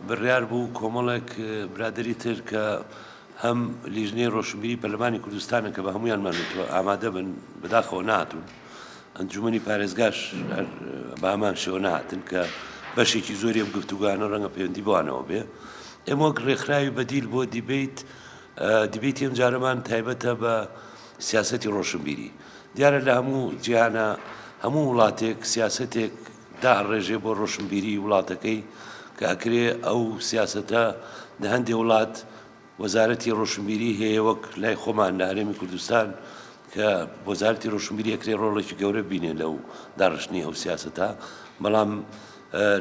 بڕیار بوو کۆمەڵێک برادری تر کە هەم لیژنەی ڕۆشنبیری پەرلەمانی کوردستانە کە بە هەمویانمان وتوە ئامادە بن بەداخەوە ناتون. ئەنجومەنی پارێزگاش هەر بامان شێوە نەهاتن کە بەشێکی زۆری ئەم گفتوگانە ڕەنگە پەیوەندی بوانەوە بێ ئێمە وەک ڕێکخراوی بەدیل بۆ دیبیت دیبیتی ئەم جارەمان تایبەتە بە سیاستی ڕۆشنبیری دیارە لە هەموو جیهانە هەموو وڵاتێک سیاستێک دا ڕێژێ بۆ ڕۆشنبیری وڵاتەکەی کە ئەکرێ ئەو سیاستە لە هەندێ وڵات وەزارەتی ڕۆشنبیری هەیە وەک لای خۆمان لە هەرێمی کوردستان کە وەزارەتی ڕۆشنبیری ئەکرێ ڕۆڵێکی گەورە بینێ لەو داڕشتنی ئەو سیاسەتە بەڵام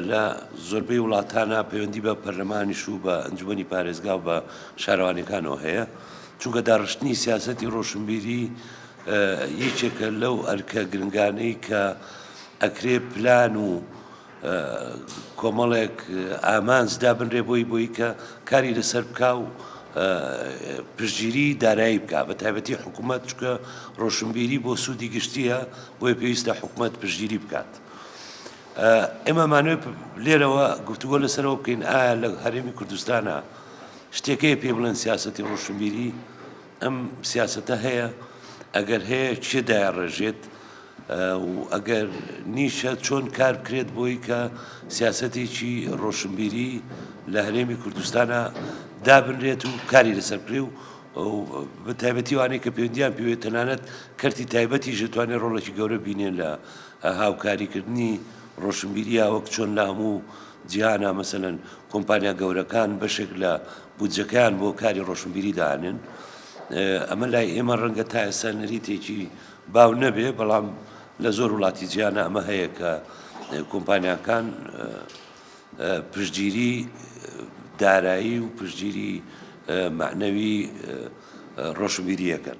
لە زۆربەی وڵاتانە پەیوەندی بە پەرلەمانیش و بە ئەنجومی پارێزگا و بە شارەوانەکانەوە هەیە چونکە داڕشتنی سیاستی ڕۆشنبیری یەکێکە لەو ئەرکە گرنگانەی کە ئەکرێ پلان و کۆمەڵێک ئامانج دابنرێ بۆی بۆی کە کاری لەسەر بکا و پشتگیری دارایی بکە بە تایبەتی حکوومەت چکە ڕۆشنبیری بۆ سوودی گشتیە بۆی پێویستە حکوومەت پشتگیری بکات. ئێمە مانوێ لێرەوە گفتوگۆ لەسەرەوە بکەین ئایا لە هەرێمی کوردستانە شتێکەیە پێ بڵێن سیاستی ڕۆشنبیری ئەم سیاسەتە هەیە؟ ئەگەر هەیە کێ دایەڕێژێت و ئەگەر نیشە چۆن کار بکرێت بۆی کە سیاسەتێکی ڕۆشنبیری لە هەرێمی کوردستانە دابنرێت و کاری لەسەر بکرێ و بە تایبەتی وانەی کە پێوەندیان پێوێت تەنانەت کەرتی تایبەتی ژێتوانێت ڕۆڵێکی گەورە بینێن لە هاوکاریکردنی ڕۆشنبیریە وەک چۆن لە هەموو جیهانە، مەسەلەن کۆمپانیا گەورەکان بەشێک لە بودجەکەیان بۆ کاری ڕۆشنبیری دانێن، ئەمە لای ئێمە ڕەنگە تا ئێستا نەریتێکی باو نەبێ، بەڵام لە زۆر وڵاتی جیهانە ئەمە هەیە کە کۆمپانیاکان پشتگیری دارایی و پشتگیری مەعنەوی ڕۆشنبیری ئەکەن.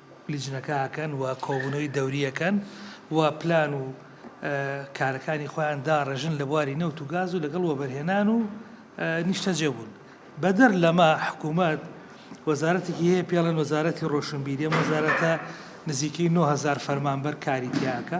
لیجنەکە ئەکەن و کۆبوونەوەی دەوری ئەکەن و پلان و کارەکانی خۆیان داڕێژن لە بواری نەوت و گاز و لەگەڵ وەبەرهێنان و نیشتەجێ بوون بەدەر لەمە حکوومەت وەزارەتێکی هەیە پێڵێن وەزارەتی ڕۆشنبیری وەزارەتە نزیکەی 9هزار فەرمانبەر کاری تیاکە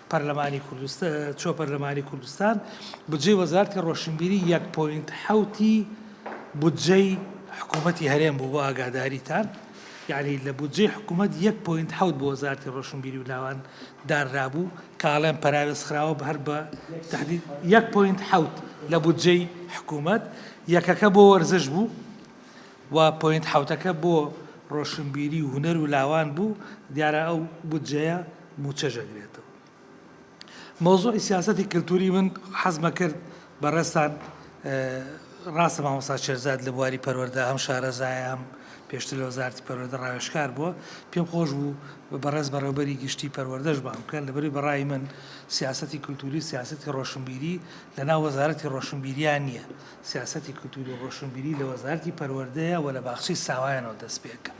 پەرلەمانی کوردستان پەرلەمانی کوردستان بودجەی وەزارتی ڕۆشنبیری یەک پۆینت حوتی بودجەی حکوومەتی هەرێم بوو بۆ ئاگاداریتان یعنی لە بودجەی حکوومەت یەک پوینت حوت بۆ وەزارتی ڕۆشنبیری و لاوان داررابوو کاڵێن پەراوێز خراوە بە هەر بە تهدید یەک پوینت حوت لە بودجەی حکوومەت یەکەکە بۆ وەرزش بوو و پوینت حوتەکە بۆ ڕۆشنبیری و هوەر و لاوان بوو دیارە ئەو بودجەیە موچەش ئەگرێتەوە مەوزوعی سیاسەتی کللتوری من حەزمە کرد بەڕێستان ڕاستە مامۆسا شێرزاد لە بواری پەروەەردە هەم شارەزایەم پێشتر لە وەزارتی پەروەەردە ڕاوێشکار بووە پێم خۆش بوو بەڕێز بەڕێوبەری گشتی پەروەەردەش بام بکەن لەبری بەڕای من سیاستی کللتوری سیاستی ڕۆشنبیری لەنا وەزارەتی ڕۆشنبیریان نییە سیاستی کللتوری ڕۆشنبیری لە وەزارتی پەروەەردەیە و لە باخچی ساوایانەوە دەست پێکە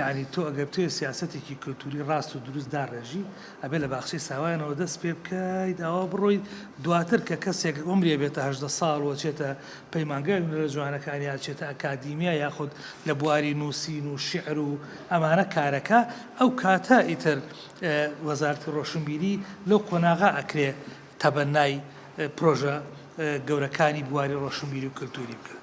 یەعنی تۆ ئەگەر بتەوێت سیاسەتێکی کلتوری ڕاست و دروست داڕێژی ئەبێت لە باخچەی ساوایانەوە دەست پێ بکەیت ئەوا بڕۆیت دواتر کە کەسێک عومری ئەبێتە هەژدە ساڵ و ئەچێتە پەیمانگای هونەرە جوانەکان یا ئەچێتە ئەکادیمیا یاخود لە بواری نووسین و شیعر و ئەمانە کارەکە ئەو کاتە ئیتر وەزارەتی ڕۆشنبیری لەو قۆناغە ئەکرێ تەبەنای پرۆژە گەورەکانی بواری ڕۆشنبیری و کلتوری بکات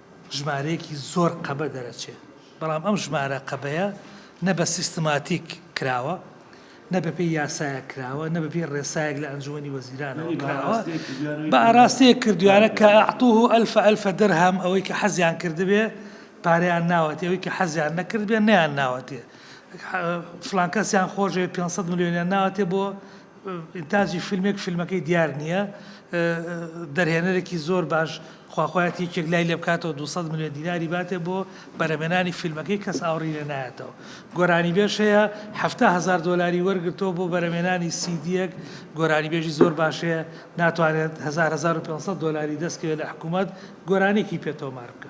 ژمارەیەکی زۆر قەبە دەرەچێت، بەڵام ئەم ژمارە قەبەیە نە بە سیستماتیک کراوە، نە بەپێی یاسایەک کراوە، نە بەپێی ڕێسایەک لە ئەنجومەنی وەزیرانەوە کراوە، بە ئاراستەیەک کردویانە کە اعطوه الف الف درهم، ئەوەی کە حەزیان کردبێ پارەیان ناوەتێ، ئەوەی کە حەزیان نەکردبێ نەیانناوەتێ، فڵان کەسیان خۆشدەوێت پێنج سەد ملیۆنیان ناوەتێ بۆ ئینتاجی فیلمێک فیلمەکەی دیار نییە دەرهێنەرێکی زۆر باش خواخوایەتی یەکێک لای لێ بکاتەوە 200 ملیۆن دیناری باتێ بۆ بەرەمێنانی فیلمەکەی کەس ئاوڕی لێ نایەتەوە گۆرانیبێژ هەیە هەفتا هەزار دۆلاری وەرگرتەوە بۆ بەرەمێنانی سیدیەک گۆرانیبێژی زۆر باش هەیە ناتوانێت 1500 دۆلاری دەستکەوێت لە حکوومەت گۆرانێکی پێ تۆمار بکە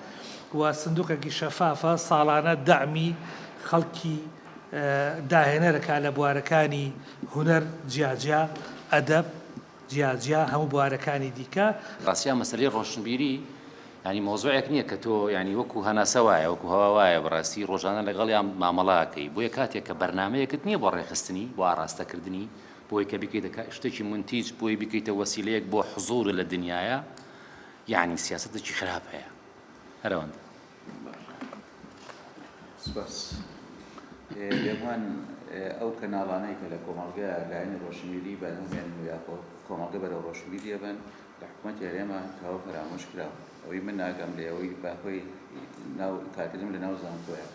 و سندوقێکی شەفافە ساڵانە دەعمی خەڵکی داهێنەر ئەکات لە بوارەکانی هونەر جیاجیا، ئەدەب جیاجیا هەموو بوارەکانی دیکە. ڕاستیا مەسەلەی ڕۆشنبیری یانی مەوزوعێک نییە کە تۆ یانی وەکو هەناسە وایە وەکو هەوا وایە بەڕاستی ڕۆژانە لەگەڵیان مامەڵە ئەکەی بۆیە کاتێک کە بەرنامەیەکت نییە بۆ ڕێکخستنی بۆ ئاڕاستەکردنی بۆی کە بیکەیتە شتێکی مونتیج بۆی بیکەیتە وەسیلەیەک بۆ حزوورت لە دنیایا یەعنی سیاسەتێکی خراپ هەیە هەر ئەوەندە. سپاس. بێگومان ئەو کەناڵانەی کە لە کۆمەڵگە لایەنی ڕۆشنبیری بەرهەمێن و یا کۆمەڵگە بەرەو ڕۆشنبیری ئەبەن لە حکوومەتی هەرێما تاوە فەرامۆش کراوە. ئەوەی من ناگەم لێ ئەوەی باکۆی ناو کادریم لەناو زانکۆیە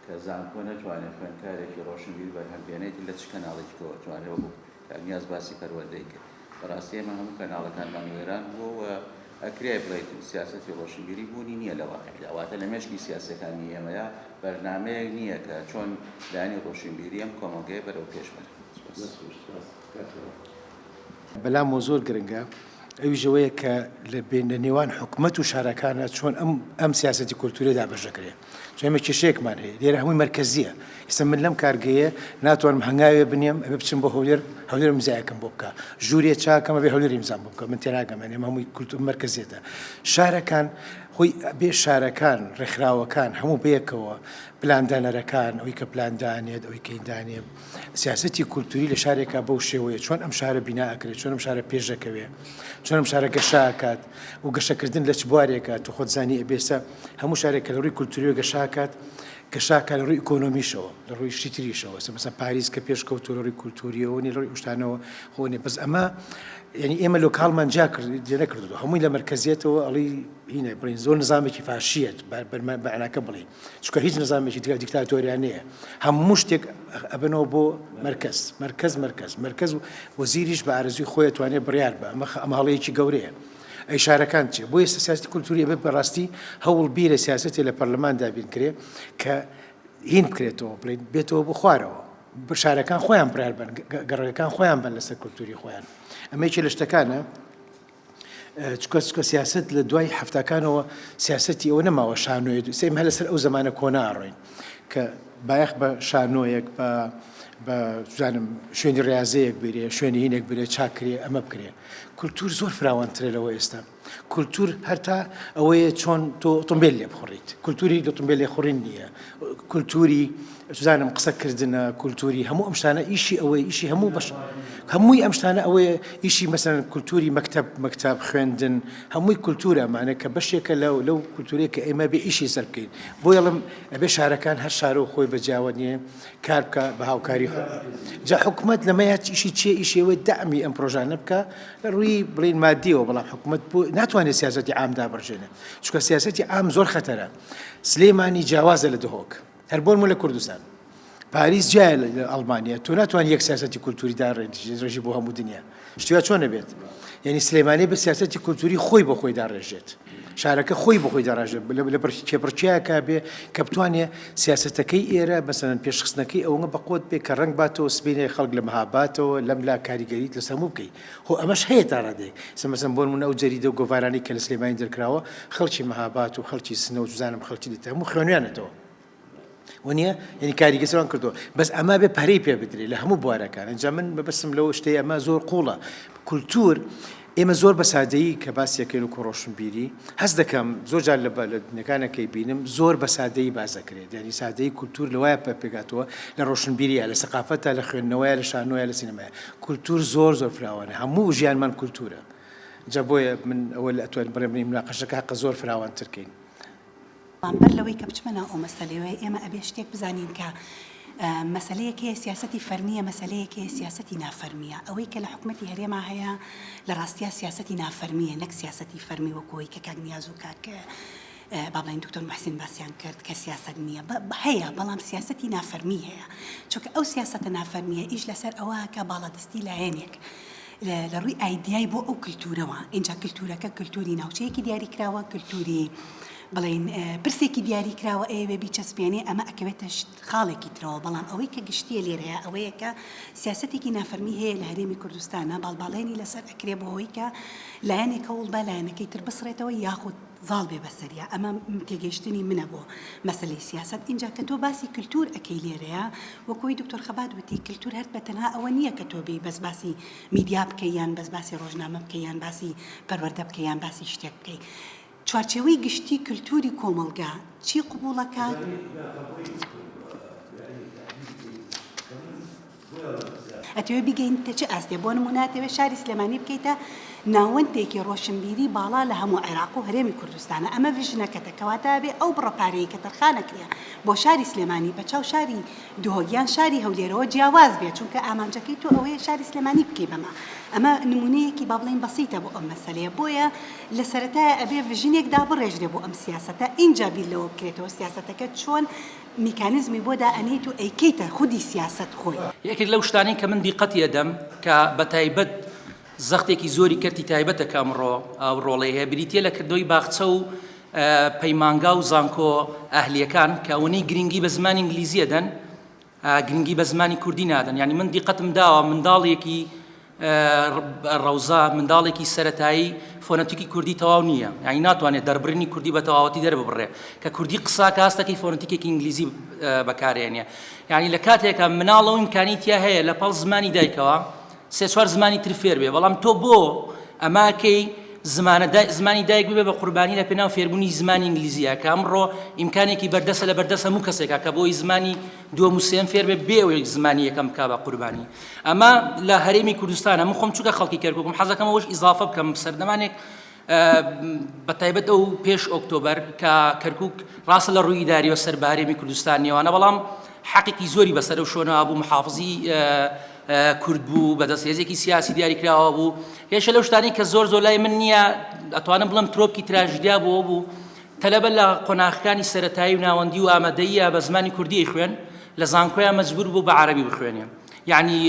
کە زانکۆ نەتوانێت خوێندکارێکی ڕۆشنبیر بەرهەم بێنێت لە چ کەناڵێکی کەوە توانێت وەکوو کاک نیاز باسی پەروەردەی کرد بەڕاستی ئێمە هەموو کەناڵەکانمان وێران بووە و ئەکرێ بڵێیت سیاسەتی ڕۆشنبیری بوونی نییە لە واقیعدا واتە لە مێشکی سیاسیەکانی ئێمەیا بەرنامەیەک نییە کە چۆن لایەنی ڕۆشنبیری ئەم کۆمەڵگەیە بەرەو پێش بەرن سوپاس. بەلامەوە زۆر گرنگە ئەویش ئەوەیە کە لە بێ لە نێوان حکومەت و شارەکانا چۆن ئەم ئەم سیاسەتی کولتووری دابەش دەکرێ. چون ئێمە کێشەیەکمان هەیە لێرە هەمووی مەرکەزیە ئیستا من لەم کارگەیە ناتوانم هەنگاوێ بنێم ئەبێ بچم بۆ هەولێر هەولێر مزایەکەم بۆ بکە ژوورێ چاکەمە بێ هەولێری مزان بۆ بکە من تێناگەمە نێم هەمووی کولتور مەرکەزیێتە شارەکان خۆی بێ شارەکان ڕێکخراوەکان هەموو بەیەکەوە پلاندانەرەکان ئەوی کە پلاندانێت ئەوی کەیدانێت سیاسەتی کولتوری لە شارێکا بەو شێوەیە چۆن ئەم شارە بینا ئەکرێت چۆن ئەم شارە پێشەکەوێ چۆن ئەم شارە گەشاکات و گەشەکردن لە چ بوارێکە تو خۆزانی ئەبێسە هەموو شارێک کە لە ڕووی کولتوری گەشاکات گەشاکە لە ڕووی ئۆکۆنۆمیشەوە لە ڕووی شتریشەوە سەمەسە پاریس کە پێش کەوتو لە ڕووی کولتوریەوە نی لە ڕووی شتانەوە خۆنێ بەس ئەمە یعنی ئێمە لۆکاڵمان جا کرد جێنە کردو هەمووی لە مرکزیەتەوە ئەڵی هینە بڵین زۆر نظامێکی فاشیت بەرمە بەعناکە بڵین چونکە هیچ نزامێکی تر دیکتاتۆریانەیە هەموو شتێک ئەبنەوە بۆ مرکز مرکز مرکز مرکز و وەزیریش بە ئارزوی خۆی توانێت بڕیار بە ئەمە ئەماڵەیەکی گەورەیە ئەی شارەکان چێ بۆ ئێستا سیاستی کولتوری بە بەڕاستی هەوڵ بیرە سیاستی لە پەرلەماندا بین کرێ کە هین بکرێتەوە بڵێن بێتەوە بۆ خوارەوە شارەکان خۆیان برار بن گەڕەکان خۆیان بن لەسەر کولتوری خۆیان ئەمەیکی لە شتەکانە چکە چکە سیاست لە دوای هەفتاکانەوە سیاستی ئەوە نەماوە شانۆێت سیم هە لەسەر ئەو زمانە کۆنا ئەڕۆین کە بایەخ بە شانۆیەک بە بەزانم شوێنی ڕاضەیەک بێ شوێنی هینێک بێ چاکرێ ئەمە بکرێ کولتور زۆر فراوانترێ لەوە ئێستا کولتور هەرتا ئەوەیە چۆن تۆ ئۆتۆمبیل لێ بخوڕیت کولتوری دەتمبیل لێ خوڕین نییە کولتوری بزانم قسە کردنە کولتوری هەموو ئەم شتانە ئیشی ئەوەی ئیشی هەموو بەش هەمووی ئەم شتانە ئەوەیە ئیشی مەسەن کولتوری مەکتب مەکتب خوێندن هەمووی کولتورە مانە کە بەشێکە لەو لەو کولتورێک کە ئێمە بێ ئیشی سەر بکەین بۆ یڵم ئەبێ شارەکان هەر شارۆ خۆی بەجیاوە نیە کار بکە بە هاوکاری خۆ جا حکوومەت لەمە یا ئیشی چێ ئیشێوەی دامی ئەم پرۆژانە بکە لە ڕووی بڵین مادیەوە بەڵام حکوومەت بۆ ناتوانێت سیاستی ئامدا بڕژێنێ چکە سیاستی ئام زۆر خەتەرە سلێمانی جیاوازە لە دهۆک هەر بۆ نموونە لە کوردستان پاریس جیایە لە ئەڵمانیا تۆ ناتوانانی یەک سیاسەتی کولتووری داڕێژی بۆ هەموو دنیا شتیا چۆن نەبێت یعنی سلێمانی بە سیاسەتی کولتووری خۆی بۆ خۆی داڕێژێت شارەکە خۆی بۆ خۆی داڕژێت لە بەرکی کێبڕچیاکە بێ کە بتوانێ سیاستەکەی ئێرە بەسەرەن پێشخستنەکەی ئەوە بە قوت بێ کە ڕنگ باتەوە سبینێ خەڵک لە مەهاباتەوە لەم لا کاریگەریت لە سەموو بکەیت خۆ ئەمەش هەیە تا ڕادەیەک سە مەسەن بۆ نموونە ئەو جەریدە و گۆڤارانەی کە لە سلێمانی دەرکراوە خەڵکی مەهاباد و خەڵکی سنە و جزانم خەڵکی دیتە هەموو خوێنویانەتەوە وەنیە یعنی کاریگە سەوان کردو بەس ئەما بێ پەرەی پێ بدرێت لە هەموو بوارەکان ئەجا من بەبستم لەوە شتەی ئەمە زۆر قوڵە کولتور ئێمە زۆر بە سادەیی کە باسیەکەین و کۆڕۆشنبیری هەست دەکەم زۆر جار لە لە دنەکانەکەی بینم زۆر بە سادەیی بازەکرێت یعنی سادەی کولتور لەوایە پێگاتەوە لە ڕۆشنبیری لە سەقافەتە لە خوێندنەوەی لە شانۆە لە سینەمای کولتور زۆر زۆر فراوانە هەموو ژیانمان کولتورە جا بۆیە من ئەوە لە ئەتوانین بڕێ بنین مناقەشەکە هەقە زۆر فراوان ترکەین. بەڵام بەر لەوەی کە بچمە ناو ئەو مەسەلەیەوە ئێمە ئەبێ شتێک بزانین کە مەسەلەیەک هەیە سیاسەتی فەرمییە مەسەلەیەک هەیە سیاسەتی نافەرمییە ئەوەی کە لە حکومەتی هەرێما هەیە لە ڕاستیا سیاسەتی نافەرمییە نەک سیاسەتی فەرمی وەکوی کە کاک نیاز و کاک با بڵێین دکتۆر موحسین باسیان کرد کە سیاسەت نییە، هەیە بەڵام سیاسەتی نافەرمی هەیە، چونکە ئەو سیاسەتە نافەرمییە ئیش لەسەر ئەوە ئەکا باڵادەستی لایەنێک لە ڕووی ئایدیای بۆ ئەو کلتوورەوە، ئینجا کلتوورەکە کلتووری ناوچەیەکی دیاریکراوە، کلتووری بڵێین پرسێکی دیاریکراوە ئەیەوێ بیچەسپێنێ، ئەمە ئەکەوێتە خاڵێکی ترەوە، بەڵام ئەوەی کە گشتییە لێرەیە ئەوەیە کە سیاسەتێکی نافەرمی هەیە لە هەرێمی کوردستانا باڵباڵێنی لەسەر ئەکرێ بۆ ئەوەی کە لایەنێک هەوڵ با لایەنەکەی تر بسڕێتەوە یاخود زاڵ بێ بەسەریا ئەمە تێگەیشتنی منە بۆ مەسەلەی سیاسەت ئینجا کە تۆ باسی کلتور ئەکەی لێرەیا وەکو ئەوی دکتۆر خەبات وتی کلتور هەر بە تەنها ئەوە نیە کە تۆ بێی بەس باسی میدیا بکەی یان بەس باسی ڕۆژنامە بکەی یان باسی پەروەردە بکەی یان باسی شتێک بکەی چوارچێوەی گشتی کلتوری کۆمەڵگا چی قبوڵ ئەکات؟ ئەتەوێ بیگەینیتە چ ئاستێ بۆ نموونە ئەتەوێ شاری سلێمانی بکەیتە ناوەندێکی ڕۆشنبیری باڵا لە هەموو عێراق و هەرێمی کوردستانە ئەمە ڤژنەکەتە کەواتە ئەبێ ئەو بڕە پارەیە کە تەرخانەکرێ بۆ شاری سلێمانی بە چاو شاری دهۆک یان شاری هەولێرەوە جیاواز بێ چونکە ئامانجەکەی تۆ ئەوەیە شاری سلێمانی بکەی بەمە ئەمە نمونەیەکی با بڵێین بەسیتە بۆ ئەم مەسەلەیە بۆیە لە سەرەتایە ئەبێ ڤژنێک دابڕێژرێ بۆ ئەم سیاسەتە ئینجا بیر لەوە بکرێتەوە سیاسەتەکە چۆن میکانیزمی بۆ دا ئەنێیت و ئەیکەیتە خودی سیاسەت خۆی. یەکێک لەو شتانەی کە من دیقەتی ئەدەم کە بە تایبەت زەختێکی زۆری کەرتی تایبەتە کە ئەمڕۆ ئەو ڕۆڵەی هەیە بریتیە لە کردنەوەی باخچە و پەیمانگا و زانکۆ ئەهلیەکان کە ئەوەنەی گرنگی بە زمانی ئینگلیزی ئەدەن گرنگی بە زمانی کوردی نادەن یانی من دیقەتم داوە منداڵێکی ڕەوزا منداڵێکی سەتایی فۆنەتیکی کوردی تەواو نییە یعنی ناتوانێت دەربڕینی کوردی بە تەواوەتی دەرببڕێ کە کوردی قسا کاستەکەی فۆنەتیکێکی ئینگلیزی بەکارێنێ یعنی لە کاتێکە مناڵەوە ئیمکانی تیا هەیە لە پاڵ زمانی دایکەوە سێ چوار زمانی تر فێر بێ بەڵام تۆ بۆ ئەماکەی زمانە زمانی دایک ببێ بە قوربانی لە پێناو فێربوونی زمانی ئینگلیزیە کە ئەمڕۆ ئیمکانێکی بەردەسە لە بەردەسە و کەسێکە کە بۆی زمانی دووەم و سێم فێر بێ بێ ئەوەی زمانی یەکەم بکا بە قوربانی ئەمە لە هەرێمی کوردستانە من خۆم چووکە خەڵکی کەرکوکم حەزەکەم ئەوش ئیزافە بکەم سەردەمانێک بە تایبەت ئەو پێش ئۆکتۆبەر کە کەرکک ڕاستە لە ڕووی داریەوە سەر بە هەرێمی کوردستان نێوانە بەڵام حەقێکی زۆری بەسەر و شۆنە بوو محافزی کورد بوو بەدەست هێزێکی سیاسی دیاری کراوە بوو هێشە لەو شتانی کە زۆر زۆر لای من نییە ئەتوانم بڵم ترۆپکی تراژدیا بۆ بوو تەلەبە لە قۆناخەکانی سەرەتایی و ناوەندی و ئامادەییە بە زمانی کوردی خوێن لە زانکۆیان مەجبور بوو بە عەرەبی بخوێنێ یعنی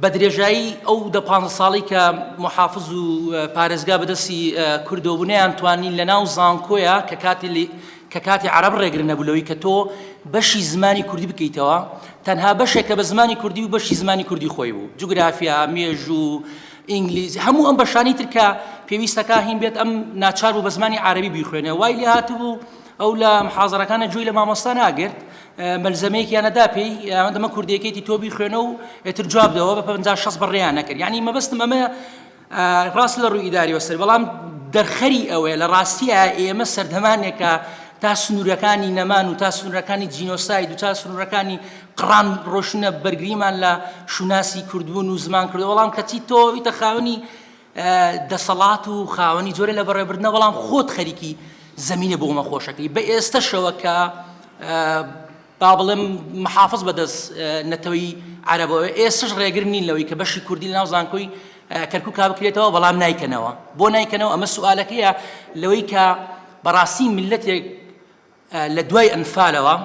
بە درێژایی ئەو دە پانزە ساڵی کە محافظ و پارێزگا بەدەستی کوردەوە بوونیان توانین لە ناو زانکۆیە کە کاتی کە کاتی عرب ڕێگر نەبوو لەوەی کە تۆ بەشی زمانی کوردی بکەیتەوە تەنها بەشێکە بە زمانی کوردی و بەشی زمانی کوردی خۆی بوو جوگرافیا مێژوو ئینگلیزی، هەموو ئەم بەشانەی تر کە پێویستە کاهین بێت، ئەم ناچار بوو بە زمانی عارەبی بیخوێنێ. وای لێ هاتبوو ئەو لە محازەرەکانە گوێی لە مامۆستا ناگرت، مەلزەمەیەکیان ئەدا پێی، ئەوان دەمە کوردییەکەیتی تۆ بیخوێنە و ئیتر جواب دەوە، بە پەنجا شەست بەڕێیان نەکرد. یانی مەبەستم ئەمەیە ڕاست لە ڕووی ئیدارییەوە سەری، بەڵام دەرخەری ئەوەیە لە ڕاستییا ئێمە سەردەمانێکە تا سنوورەکانی نەمان و تا سنوورەکانی جینۆساید و تا سنوورەکانی قڕان ڕۆشنە بەرگریمان لە شوناسی کوردبوون و زمان کردو بەڵام کەچی تۆ ویتە خاوەنی دەسەڵات و خاوەنی جۆرە لە بەڕێبردنە بەڵام خۆت خەریکی زمینە بۆ مەخۆشەکەی بە ئێستەشەوە کە با بڵێم محافظ بەدەست نەتەوەی عربەوە ئێستش ڕێگر نین لەوەی کە بەشی کوردی ناو زانکۆی کەرکک کا بکرێتەوە بەڵام نایکەنەوە بۆ نایکەنەوە ئەمە سوالەکەیە لەوەی کە بەڕاستی ملەتێک لە دوای ئەنفالەوە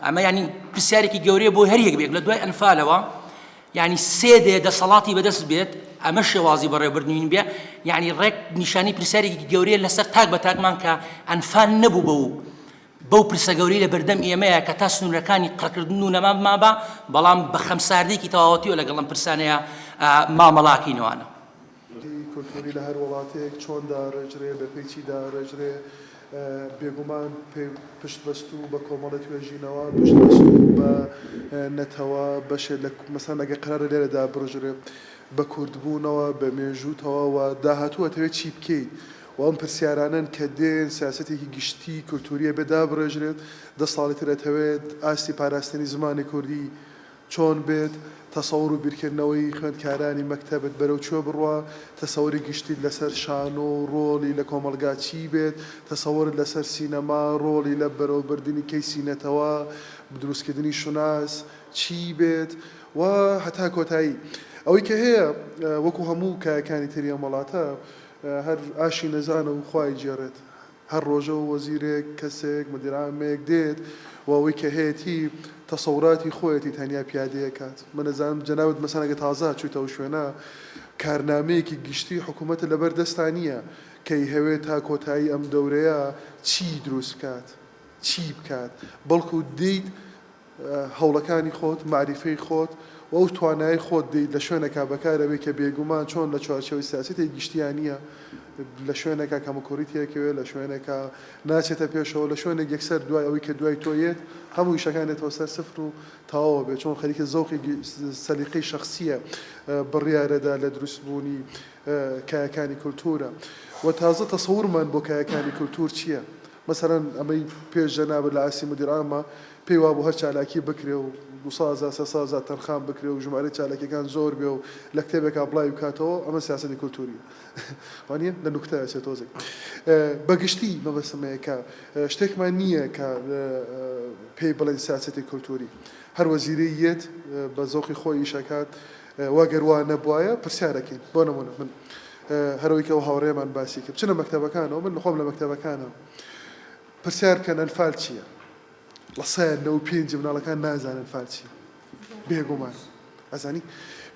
ئەمە ینی پرسیارێکی گەورەیە بۆ هەر یەک بێک لە دوای ئەنفالەوە ینی سێ دێ دەسەڵاتی بەدەست بێت ئەمە شێوازی بەڕێبردنین بێ ینی ڕێک نیشانی پرسیارێکی گەورەیە لەسەر تاک بە تاکمان کە ئەنفال نەبوو بە و بەو پرسە گەوری لە بەردەم ئێمەیە کە تا سنوورەکانی قڕکردن و نەمام مابا بەڵام بە خەمساردێکی تەواوەتیەوە لەگەڵم پرسانەیە مامەڵاکەینەوانە دی کولتووری لە هەر وڵاتێک چۆن داڕێژرێ، بە پێی چی داڕێژرێ؟ بێگومان پێ پشتبەستوو بە کۆمەڵە توێژینەوە، پشتبەستوو بە نەتەوە، بەشێ لە کو مەسەن ئەگەر قەرارە لێرە دابڕژرێ، بە کوردبوونەوە، بە مێژووتەوە و داهاتوو ئەتەوێ چی بکەیت؟ و ئەم پرسیارانەن کە دێن سیاسەتێکی گشتی کولتووری ئەبێ دابڕێژرێت. دە ساڵی تر ئەتەوێت ئاستی پاراستنی زمانی کوردی چۆن بێت، تەسەوڕ و بیرکردنەوەی خوێندکارانی مەکتەبت بەرەو کوێ بڕوا، تەسەوری گشتیت لەسەر شانۆ و ڕۆڵی لە کۆمەڵگا چی بێت، تەسەوڕت لەسەر سینەما، ڕۆڵی لە بەرەو بردنی کەیسی نەتەوە، دروستکردنی شوناس، چی بێت و هەتا کۆتایی. ئەوەی کە هەیە وەکو هەموو کایەکانی تری ئەم وەڵاتە هەر ئاشی نەزانە و خوا ئەیگێڕێت. هەر ڕۆژە و وەزیرێک، کەسێک، مدیرعامێک دێت و ئەوەی کە هەیەتی تەسەوراتی خۆیەتی تەنیا پیادەی ئەکات. من ئەزانم جەنابت مەسەن ئەگەر تازە هاتچویتە ئەو شوێنە کارنامەیەکی گشتی حکومەتت لەبەر دەستا نیە کە ئەیهەوێت تا کۆتایی ئەم دەورەیە چی دروست بکات چی بکات بەڵکو دێیت هەوڵەکانی خۆت، مەعریفەی خۆت و ئەو توانایەی خۆت دەیت لە شوێنێکا بەکارەبەی کە بێگومان چۆن لە چوارچێوەی سیاسەتێک گشتیا نییە، لە شوێنێکا کەموکوڕی تێکەوێت، لە شوێنێکا ناچێتە پێشەوە، لە شوێنێک یەکسەر دوای ئەوەی کە دوای تۆ یێت هەموو ئیشەکان دێتەوە سەر سفر و تەواوە بێت، چۆن خەریکە زەوقی سەلیقەی شەخسییە بڕیارەدا لە دروستبوونی کایەکانی کولتوورە و تازە تەسەورمان بۆ کایەکانی کولتوور چییە؟ مەسەلەن ئەمەی پێش جەنابت لە عەرسی مودیر عامە پێی وابوو هەر چالاکی بکرێ و دوو سەد هەزار سێ سەد هەزار تەرخان بکرێ و ژمارەی چالاکیەکان زۆر بێ و لە کتێبێکا بڵاوی بکاتەوە ئەمە سیاسەتی کولتووریە وانیە لە نوکتە ئەچێ تۆزێک بە گشتی مەبەستم ئەوەیە کە شتێکمان نییە کە پێی بڵێین سیاسەتی کولتووری هەر وەزیرەی یێت بە زەوقی خۆی ئیش ئەکات وە گەر وا نەبوایە پرسیارەکەین بۆ نمونە من هەرەوەی کە ئەو هاوڕێمان باسی کرد بچنە مەکتەبەکانەوە من خۆم لە مەکتەبەکانە پرسیار کەن ئەنفال چییە لە سایە نەو پێنج مناڵەکان نازانن ئەنفال چییە بێگومان ئەزانی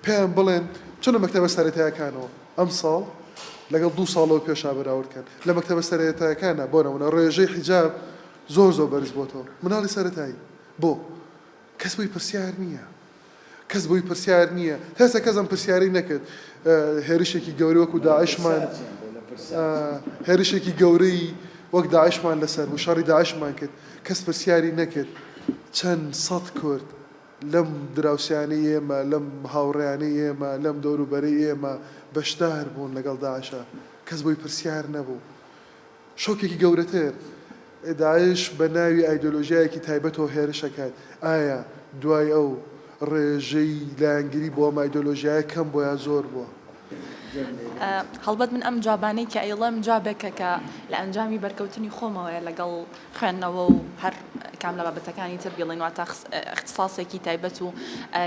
پێیان بڵێن چونە مەکتەبە سەرەتایەکانەوە ئەم ساڵ لەگەڵ دو ساڵەوە پێشا بەراوردکەن لە مەکتەبە سەرەتایەکانە بۆ نەمونە ڕێژەی حیجاب زۆر زۆر بەرز بۆتەوە مناڵی سەرەتایی بۆ کەس بۆی پرسیار نییە کەس بۆی پرسیار نییە، تا ئێستا کەس ئەم پرسیارەی نەکرد، هێرشێکی گەورەی وەکو داعشمان هێرشێکی گەورەی وەک داعشمان لەسەر بوو، شەڕی داعشمان کرد، کەس پرسیاری نەکرد چەند سەد کورد لەم دراوسێیانەی ئێمە، لەم هاوڕێیانەی ئێمە، لەم دەوروبەرەی ئێمە بەشدار بوون لەگەڵ داعشا، کەس بۆی پرسیار نەبوو. شۆکێکی گەورەتر، داعش بە ناوی ئایدۆلۆژیایەکی تایبەتەوە هێرش ئەکات، ئایا دوای ئەو ڕێژەی لایەنگری بۆ ئەم ئایدۆلۆژیایە کەم بووە یا زۆر بووە؟ هەڵبەت من ئەم جوابانەی کە ئەیڵێم جوابێکە کە لە ئەنجامی بەرکەوتنی خۆمەوەیە لەگەڵ خوێندنەوە و هەر کام لە بابەتەکانی تر بیڵێین واتە ئیختساسێکی تایبەت و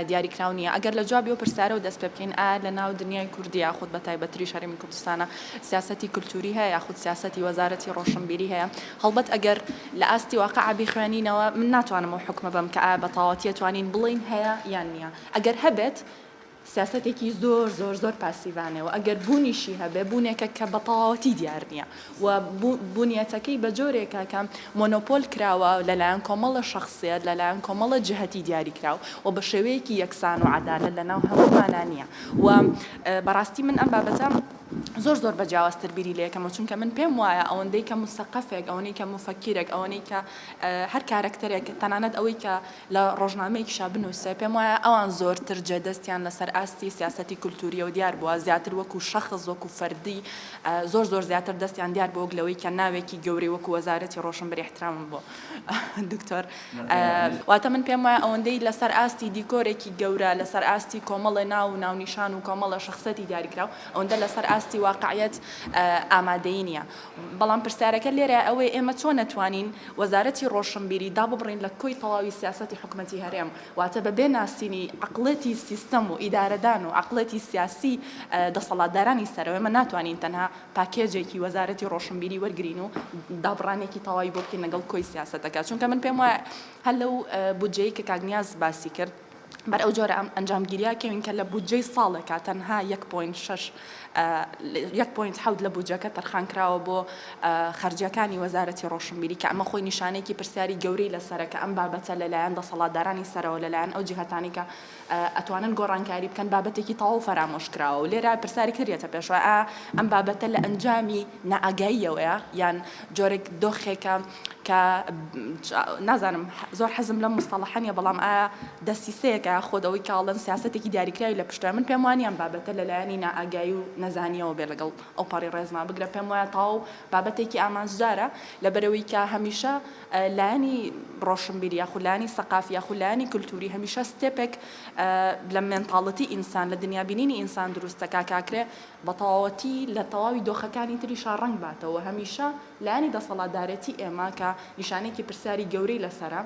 دیاری کراو نییە ئەگەر لە جوابی ئەو پرسیارەوە دەست پێ بکەین ئایا لە ناو دنیای کوردی یاخود بە تایبەتریش هەرێمی کوردستانە سیاسەتی کلتوری هەیە یاخود سیاسەتی وەزارەتی ڕۆشنبیری هەیە هەڵبەت ئەگەر لە ئاستی واقع بیخوێنینەوە من ناتوانم ئەو حوکمە بەم کە ئایا بەتاواتی ئەتوانین بڵێین هەیە یان نییە ئەگەر هەبێت سیاسەتێکی زۆر زۆر زۆر پاسیڤانەیە و ئەگەر بوونیشی هەبێ بوونێکە کە بەتەواوەتی دیار نییە و بوونیەتەکەی بە جۆرێکە کە مۆنۆپۆل کراوە لەلایەن کۆمەڵە شخصیت لەلایەن کۆمەڵە جهتی دیاری کراو و بە شێوەیەکی یەکسان و عەدالەت لەناو هەموومانا نییە و بەڕاستی من ئەم بابەتە زۆر زۆر بە جیاوازتر بیری لێ یەکەمەوە چونکە من پێم وایە ئەوەندەی کە موسەقەفێک ئەوەنەی کە موفەکیرێک ئەوەنەی کە هەر کارەکتەرێک تەنانەت ئەوەی کە لە ڕۆژنامەیەکیشا بنووسێ پێم وایە ئەوان زۆرتر جێ دەستیان لەسەر ئاستی سیاسەتی کولتووریەوە دیار بووە زیاتر وەکوو شەخص وەکوو فەردی زۆر زۆر زیاتر دەستیان دیار بووە وەک لەوەی کە ناوێکی گەورەی وەکوو وەزارەتی ڕۆشنبری احترامم بۆ دکتۆر واتە من پێم وایە ئەوەندەی لەسەر ئاستی دیکۆرێکی گەورە، لەسەر ئاستی کۆمەڵێ ناو و ناونیشان و کۆمەڵە شەخسەتی دیاریکراو، ئەوەندە لەسەر ئاستی واقعیەت ئامادەیی نییە. بەڵام پرسیارەکە لێرە ئەوەیە ئێمە چۆن ئەتوانین وەزارەتی ڕۆشنبیری داببڕین لە کۆی تەواوی سیاسەتی حکومەتی هەرێم؟ واتە بەبێ ناسینی عەقڵێتی سیستەم و ئیدارەدان و عەقڵێتی سیاسی دەسەڵاتدارانی سەرەوە ئێمە ناتوانین تەنها پاکێجێکی وەزارەتی ڕۆشنبیری وەرگرین و دابڕانێکی تەواوی بۆ بکەین لەگەڵ کۆی سیاسەتەکە چونکە من پێم وایە هەر لەو بودجەی کە کاک نیاز باسی کرد بەر ئەو جۆرە ئەم ئەنجامگیریا کەوین کە لە بودجەی ساڵێکا تەنها 1.6 1.7 لە بودجەکە تەرخان کراوە بۆ خەرجیەکانی وەزارەتی ڕۆشنبیری کە ئەمە خۆی نیشانەیەکی پرسیاری گەورەی لەسەرە کە ئەم بابەتە لەلایەن دەسەڵاتدارانی سەرەوە لەلایەن ئەو جیهتانی کە ئەتوانن گۆڕانکاری بکەن بابەتێکی تەواو فەرامۆش کراوە و لێرە پرسیارێک تر دێتە پێشەوە ئایا ئەم بابەتە لە ئەنجامی نائاگاییەوەیە یان جۆرێک دۆخێکە کە نازانم زۆر حەزم لەم مستەڵەحە نیە بەڵام ئایا دەسیسەیەکە خۆ دەوەی کاڵن سیاسەتێکی دیاریکراوی لە پشتە من پێم وانە ئەم بابەتە لەلایەنی نائاگایی و نەزانیەوە بێ لەگەڵ ئەوپەڕی ڕێزما بگرە پێم وایە تەواو بابەتێکی ئامانجدارە لەبەرەوەی کە هەمیشە لایەنی ڕۆشنبیر یاخود لایەنی سەقافی یاخود لایەنی کلتوری هەمیشە ستێپێک لە مێنتاڵتی ئینسان لە دنیابینینی ئینسان دروست دەکا کاکرێ بە تەواوەتی لە تەواوی دۆخەکانی تریشا ڕەنگ باتەوە هەمیشە لایەنی دەسەڵاتدارێتی ئێمە کە نیشانەیەکی پرسیاری گەورەی لەسەرە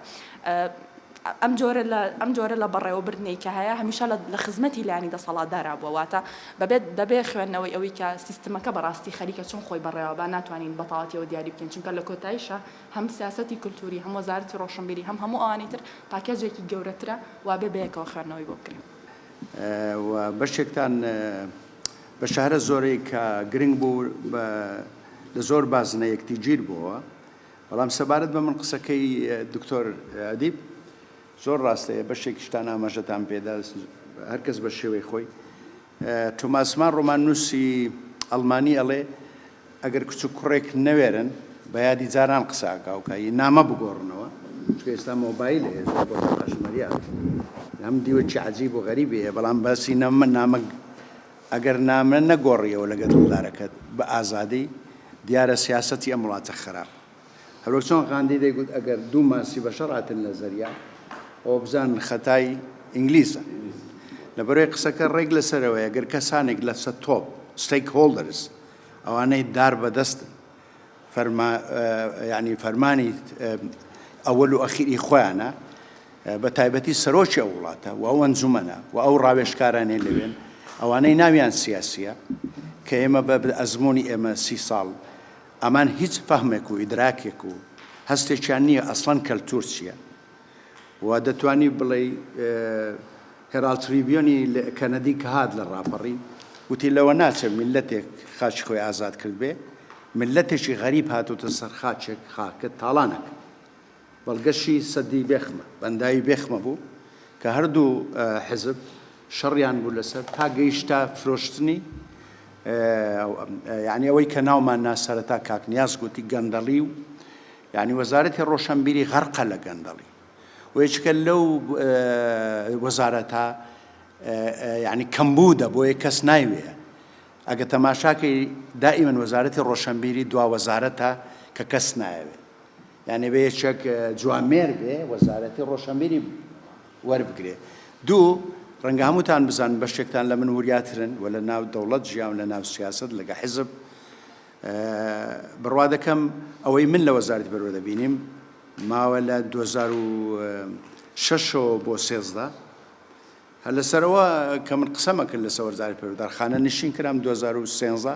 ئەم جۆرە لە بەڕێوەبردنەی کە هەیە هەمیشە لە خزمەتی لایەنی دەسەڵاتدارا بووە، واتە بەبێ خوێندنەوەی ئەوەی کە سیستمەکە بەڕاستی خەریکە چۆن خۆی بەڕێوەبا ناتوانین بەتەواوەتیەوە دیاری بکەین، چونکە لە کۆتاییشا هەم سیاسەتی کولتووری، هەم وەزارەتی ڕۆشنبیری، هەم هەموو ئەوانی تر پاکێجێکی گەورەترە وابێ بەیەکەوە خوێندنەوەی بۆ بکرێ. و بەشێکتان بە شەهرە زۆرەی کە گرنگ بوو لە زۆر بازنە یەکتیگیر بۆوە. بەڵام سەبارەت بە من قسەکەی دکتۆر ئەدیب زۆر ڕاستەیە بەشێکیشتان ئاماژەتان پێدا هەرکەس بە شێوەی خۆی توماس مان ڕۆمان نووسی ئەڵمانی ئەڵێ ئەگەر کچ و کوڕێک نەوێرن بە یادی جاران قساکاوکایی نامە بگۆڕنەوە ئێستا مۆبایل هەیە بۆ ڕاشمەریان ئەم دیوەکی عجیب و غەریبی هەیە بەڵام باسی نامە نامە ئەگەر نامە نەگۆڕیەوە لەگەر دڵدارەکەت بە ئازادی، دیارە سیاسەتی ئەم وڵاتە خەراپە. هەروەک چۆن غاندی دەیگوت ئەگەر دوو ماسی بە شەڕ هاتننە زەریا، ئەوە بزانن خەتای ئینگلیزە. لەبەرئەوەی قسەکە ڕێک لە سەرەوەیە، گەر کەسانێک لە سەتۆپ، Stakeholders، ئەوانەی دار بەدەستن، فەرما یعنی فەرمانی ئەوەل و ئەخیری خۆیانە بە تایبەتی سەرۆکی ئەو وڵاتە و ئەو ئەنجومەنە و ئەو ڕاوێشکارانێ لەوێن ئەوانەی ناویان سیاسیە کە ئێمە بە ئەزمموی ئێمە سی ساڵ ئەمان هیچ فەهمێک و ئیدراکێک و هەستێکیان نییە ئەسڵەن کەلتور چییە و دەتوانی بڵێی هێراڵد تریبیۆنی کەنەدی کە هات لە ڕاپەڕین وتی لەوە ناچێ میللەتێک خاچی خۆی ئازاد کردبێ میللەتێکی غەریب هاتۆتە سەر خاچێک خاکە تاڵانەکە بەڵگەشی سەدی بێخمە بەنداوی بێخمە بوو کە هەردوو حزب شەڕیان بوو لەسەر تا گەیشتا فرۆشتنی یعنی ئەوەی کە ناومان ناسەرەتا کاکنیاز گوتی گەندەڵی و یانی وەزارەتی ڕۆشەنبیری غەرقە لە گەندەڵی و یەکێکە لەو وەزارەتە یعنی کەمبوودە بۆیە کەس نایوێ ئەگە تەماشاکەی دائیمەن وەزارەتی ڕۆشنبیری دوا وەزارەتە کە کەس نایەوێت یانێ بێ چەک جوامێر بێ وەزارەتی ڕۆشنبیری وەربگرێ دوو ڕەنگە هەمووتان بزان بەشێکتان لە من وریاترن و لە ناو دەوڵەت ژیان لە ناو سیاست لەگە حزب بڕوا دەکەم ئەوەی من لە وەزارەتی پەروەردە دەبینیم ماوە لە دوو هەزار و شەش ەوە بۆ سێزدە هەر لەسەرەوە کە من قسەمە کرد لەسەر وەزارەتی پەروەردە خانەنشین کرام دوو هەزار و سێزدە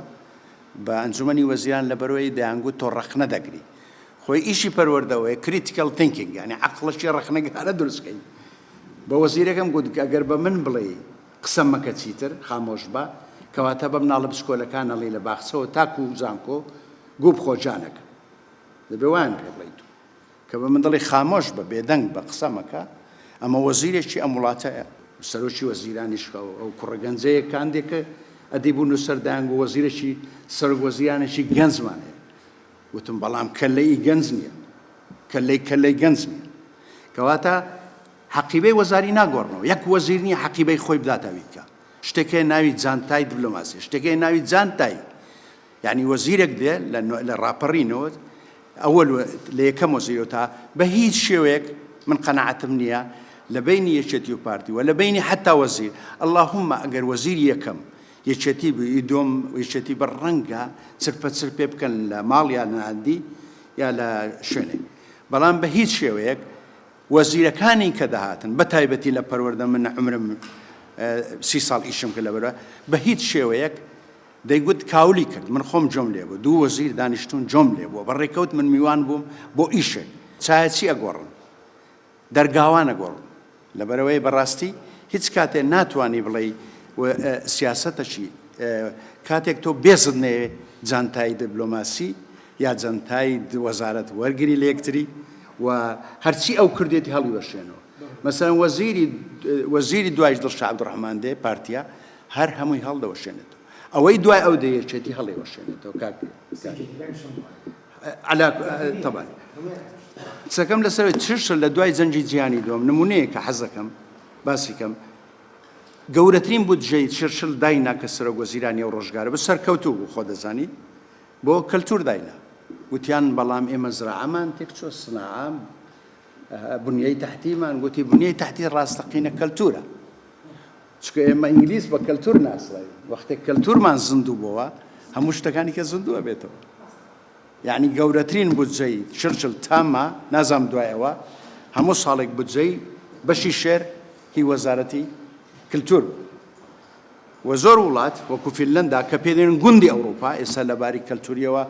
بە ئەنجومەنی وەزیران لە بەرەی دەیانگوت تۆ ڕەخنە دەگری خۆی ئیشی پەروەردەوەیە کریتیکەڵ تینکینگ یعنی عەقڵەکی ڕەخنەگرانە دروستکەی بە وەزیرەکەم گوت گەر بە من بڵێی قسە مەکە چیتر خامۆش بە. کەواتە بە مناڵە بچکۆلەکان ئەڵێی لە باخچەوە تاکو زانکۆ گوو بخۆ جانەکەم. دەبێ وایان پێ بڵێی تۆ. کە بە من دەڵێی خامۆش بە بێدەنگ بە قسە مەکە ئەمە وەزیرێکی ئەم وڵاتەیە و سەرۆکی وەزیرانیش خە ئەو کوڕە گەنجەیە کاندێکە ئەدی بوو نووسەر دایانگو وەزیرێکی سەرۆک وەزیرانێکی گەنجمان هەیە وتم بەڵام کەلەی گەنج نییە کەلەی کەلەی گەنج نییە کەواتە حەقیبەی وەزاری ناگۆڕنەوە یەک وەزیر نیە حەقیبەی خۆی بداتە ویتکە شتێک هەیە ناوی جانتای دبلۆماسی شتێک هەیە ناوی جانتای یعنی وەزیرێک دێ لە ڕاپەڕینەوە ئەوە لە یەکەم وەزیرەوە تا بە هیچ شێوەیەک من قەنەعەتم نییە لە بینی یەکێتی و پارتی وە لە بینی حتا وەزیر اللهم ئەگەر وەزیر یەکەم یەکێتی بووی دۆم یەکێتی بە ڕەنگە چرپە چر پێ بکەن لە ماڵ یا نادی یا لە شوێنێک بەڵام بە هیچ شێوەیەک وەزیرەکانی کە دەهاتن بە تایبەتی لە پەروەردە من عومرم سی ساڵ ئیشم کرد لە بەروە بە هیچ شێوەیەک دەیگوت کاولی کرد من خۆم جۆم لێ بوو دوو وەزیر دانیشتون جۆم لێ بووە بە ڕێکەوت من میوان بووم بۆ ئیشێک چایەچی ئەگۆڕن دەرگاوانە گۆڕن لەبەرەوەی بەڕاستی هیچ کاتێ ناتوانانی بڵێ سیاستەشی کاتێک تۆ بێزت نەیە جانتایی دبلۆماسی یا جەنتای وەزارەت وەرگری لەیەکتری و هەرچی ئەو کردێتی هەڵیوەشێنەوە مەسەن وەزیری وەزیری دوایش دڵ شعب ڕحمان دێ پارتیا هەر هەمووی هەڵدەوەشێنێت ئەوەی دوای ئەو دەیەچێتی هەڵێوەشێنێتەوە کاک طبعا قسەکەم لەسەر چشە لە دوای جەنجی جیانی دۆم نمونەیە کە حەزەکەم باسیکەم گەورەترین بودجەی چرشل داینا کە سەرۆک وەزیرانی و ڕۆژگارە بە سەرکەوتوو بوو خۆ دەزانی بۆ کەلتور داینا گوتیان بەڵام ئێمە زراعەمان تێکچۆ سناعە بنیەی تحتیمان گوتی بنیەی تحتی ڕاستەقینە کەلتورە چکە ئێمە ئینگلیس بە کەلتور ناسڵی وەختێک کەلتورمان زیندوو بووە هەموو شتەکانی کە زیندووە بێتەوە یعنی گەورەترین بودجەی چرچل تامە نازام دوایەوە هەموو ساڵێک بودجەی بەشی شێر هی وەزارەتی کللتور و زۆر وڵات وەکو فینلەندا کە پێدەین گوندی ئەوڕوپا ئێستا لەباری کەلتوریەوە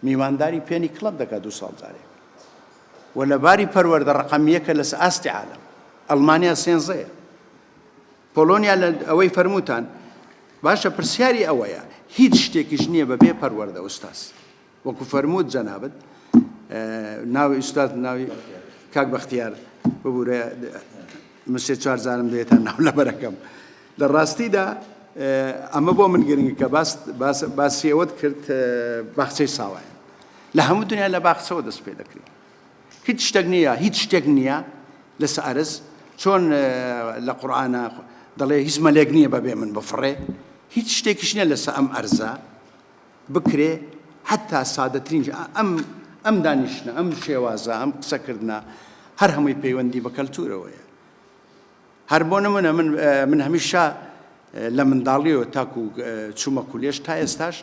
میوانداری پێنی کڵەب دەکات دوو ساڵ جارێک و لەباری پەروەردە ڕەقەم یەکە لەس ئاستی عالەم ئەڵمانیا سێنزەیە پۆلۆنیا لە ئەوەی فەرموتان باشە پرسیاری ئەوەیە هیچ شتێکیش نییە بەبێ پەروەردە ئوستاز وەکو فەرمووت جەنابت ناوی ئوستاد ناوی کاک بەختیار ببوورە من سێ چوار جارم دێتە ناو لەبەرەکەم لە ڕاستیدا ئەمە بۆ من گرنگ کە باسی ئەوەت کرد باخچەی ساوایە لە هەموو دنیا لە باخچەوە دەست پێ دەکرێت هیچ شتێک نییە هیچ شتێک نییە لە سەرز چۆن لە قورآانە دەڵێ هیچ مەلێک نییە بەبێ من بفڕێ هیچ شتێکیش نیە لەسە ئەم ئەرزە بکرێ حەتا سادەترینش ئەم ئەم دانیشتنە ئەم شێوازە ئەم قسەکردە هەر هەمووی پەیوەندی بە کەلتورەوەیە هەر بۆ نمونە من من هەمیشە لە منداڵیەوە تاکو چوومە کولێش تا ئێستاش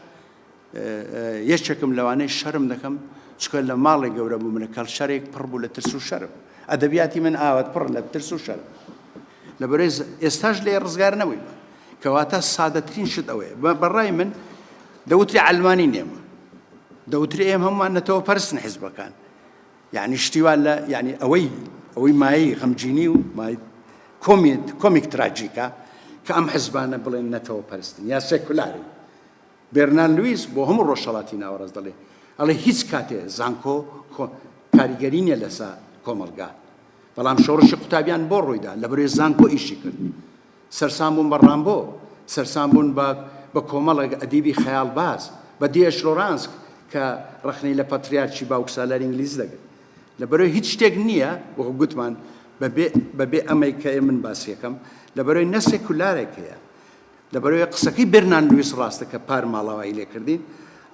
یەکێکم لەوانەی شەرم دەکەم چکە لە ماڵێک گەورە بوو منە کەڵ شەرێک پڕ بوو لە ترس و شەرم ئەدەبیاتی من ئاوات پڕ لە ترس و شەرم لەبەرئ ئێستاش لێ ڕزگار نەبوویمە کەواتە سادەترین شت ئەوەیە بەڕای من دەوتری ئەلمانی نێمە دەوتری ئێم هەمومان نەتەوە پەرستن حزبەکان یعنی شتیوا لە یعنی ئەوەی ئەوەی مایەی غەمجینی و مای کۆمیت کۆمیک تراجیکە کە ئەم حزبانە بڵێن نەتەوە پەرستن یا سێکولاری بێرنان لویس بۆ هەموو ڕۆژهڵاتی ناوەڕاست دەڵێ ئەڵێ هیچ کاتێ زانکۆ کاریگەری نیە لەسا کۆمەلگا بەڵام شۆڕشی قوتابیان بۆ ڕوویدا لە بەروێ زانکۆ ئیشی کرد سەرسام بوون بە ڕامبۆ سەرسام بوون بە بە کۆمەڵێک ئەدیبی خەیاڵباز بە دیێش لۆرانسک کە ڕەخنەی لە پەتریارکی باوکسالاری ئینگلیز دەگرت لە بەروێ هیچ شتێک نییە وەکو گوتمان بەبێ ئەمەی کە من باسیەکەم لە بەروێ نە سێکولارێک هەیە لەبەرئەوەی قسەکەی بێرنان لویس ڕاستە کە پار ماڵاوایی لێ کردین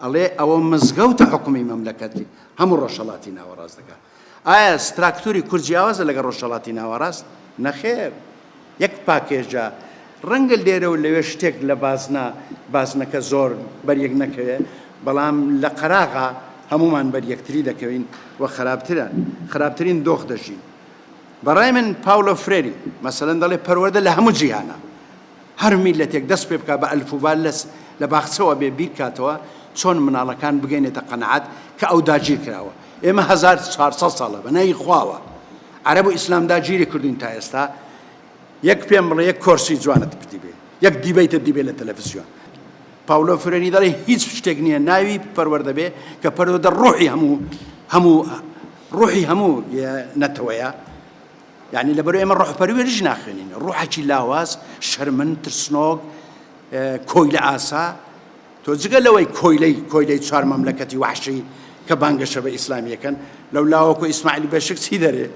ئەڵێ ئەوە مزگەوتە حکومی مەملەکەتی هەموو ڕۆژهەڵاتی ناوەڕاست دەکا ئایا ستراکتوری کورد جیاوازە لەگە ڕۆژهەڵاتی ناوەڕاست نەخێر یەک پاکێژە ڕەنگە لێرە و لەوێ شتێک لە بازنە بازنەکە زۆر بەریەک نەکەوێ بەڵام لە قەراغا هەمومان بەر یەکتری دەکەوین و خراپترە خراپترین دۆخ دەژین بەڕای من پاولۆ فرێری مەسەلەن دەڵێ پەروەدە لە هەموو جیهانە هەر میللەتێک دەست پێ بکا بە ئەلفوبا لەس لە باخچەوە بێ بیر کاتەوە چۆن مناڵەکان بگەینێتە قەناعەت کە ئەو داگیر کراوە ئێمە هەزار و چوار سەد ساڵە بە ناوی خواوە عەرەب و ئیسلام داگیری کردوین تا ئێستا یەک پێم بڵێ یەک کۆرسی جوانت پتی بێ یەک دیبەیتە دیبێ لە تەلەڤزیۆن پاولۆ فرێنی دەڵێ هیچ شتێک نییە ناوی پەروەردە بێ کە پەروەدە ڕۆحی هەموو هەموو ڕۆحی هەموو نەتەوەیە یانی لەبەر ئێمە ڕۆحپەروێریش ناخوێنین ڕوحەکی لاواز شەرمن ترسنۆک کۆیلە ئاسا تۆ جگە لەوەی کۆیلەی کۆیلەی چوار مەملەکەتی وحشی کە بانگەشە بە ئیسلامیەکەن لەو لاوەکو ئیسماعیل بەشک چی دەرێ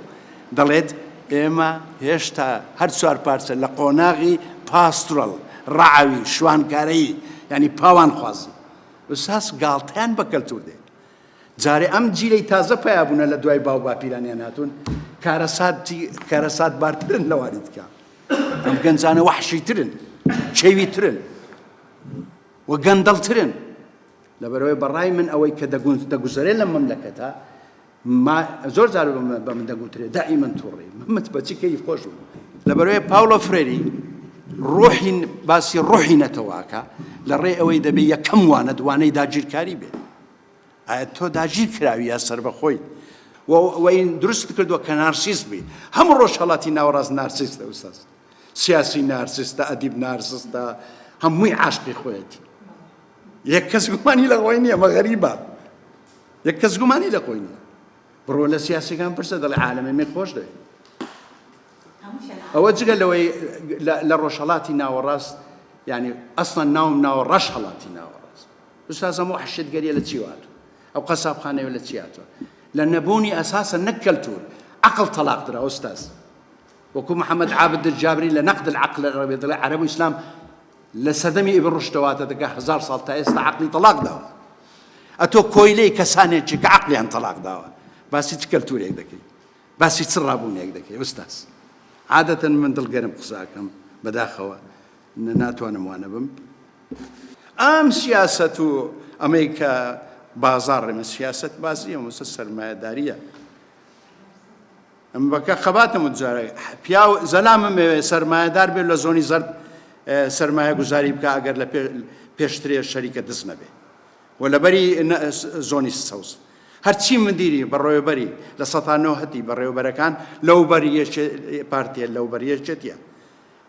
دەڵێت ئێمە هێشتا هەر چوار پارچە لە قۆناغی پاسترەڵ ڕعاوی شوانکارەی ینی پاوان خوازن وساس گاڵتەیان بە کەلتور دێت جارێ ئەم جیلەی تازە پەیابوونە لە دوای باو باپیرانیان هاتوون کارەسات بارترن لەوانی دیکە ئەم گەنجانە وەحشیترن چێویترن و گەندەڵترن لەبەرەوەی بەڕای من ئەوەی کە دەگونج دەگوزەرێ لە مەملەکەتە زۆر جار بە من دەگوترێ دائی من توڕی محمد بەچی کەی خۆش بوو لەبەرەوەی پاولۆ فرێری ڕۆحین باسی ڕۆحی نەتەواکە لە ڕێ ئەوەی دەبێ یەکەم وانە دوانەی داگیرکاری بێت ئایا تۆ داگیرکراوی یا سەربەخۆی و ئەوەی دروست کردووە کە نارسیست بی هەموو ڕۆژهڵاتی ناوەڕاست نارسیستە ئوستاز سیاسی نارسیستە ئەدیب نارسستە هەمووی عاشقی خۆیەتی یەک کەس گومانی لە خۆی نییە مە غەریبە یەک کەس گومانی لە خۆی نییە بڕۆ لە سیاسەکان پرسە دەڵێ عالەمە من خۆش دەوێت ئەوە جگە لەوەی لە ڕۆژهڵاتی ناوەڕاست ینی ئەسڵەن ناوم ناوە ڕەش هەڵاتی ناوەڕاست استاذ ئەم وەحشتگەریە لە چی هاتوە ئەو قەسابخانەیە لە چی هاتوە لە نەبوونی ئەساسە نەک کەلتور عقل طلاق درا استاذ وەکو محمد عابد الجابری لە نقد العقل العربی دەڵێ عرب و ئیسلام لە سەدەمی ئیبن ڕشتەواتە دەگە هزار ساڵ تا ئێستا عقلی طلاق داوە ئەتۆ کۆیلەی کەسانێکی کە عقلیان طلاق داوە باسی چ کەلتورێک دەکەی باسی چ ڕابوونێک دەکەی استاذ عادەتەن من دڵگەرم قساکەم بەداخەوە ناتوانم وا نەبم. ئەم سیاسەت و ئەمەی کە بازاڕ ئێمە سیاسەت بازیە مەسە سەرمایەداریە ئەم بەکە خەباتم و جارە پیا زەلامم مەوێ سەرمایەدار بێت لە زۆنی زەرد سەرمایە گوزاری بکە ئەگەر لە پێشترێ شەریکە دز نەبێ و لەبەری زۆنی سەوز هەرچی مدیری بەڕێوەبەری لە سەتانەوە هەتی بەڕێوەبەرەکان لەو بەریەکێ پارتێ لەو بەریەکێتە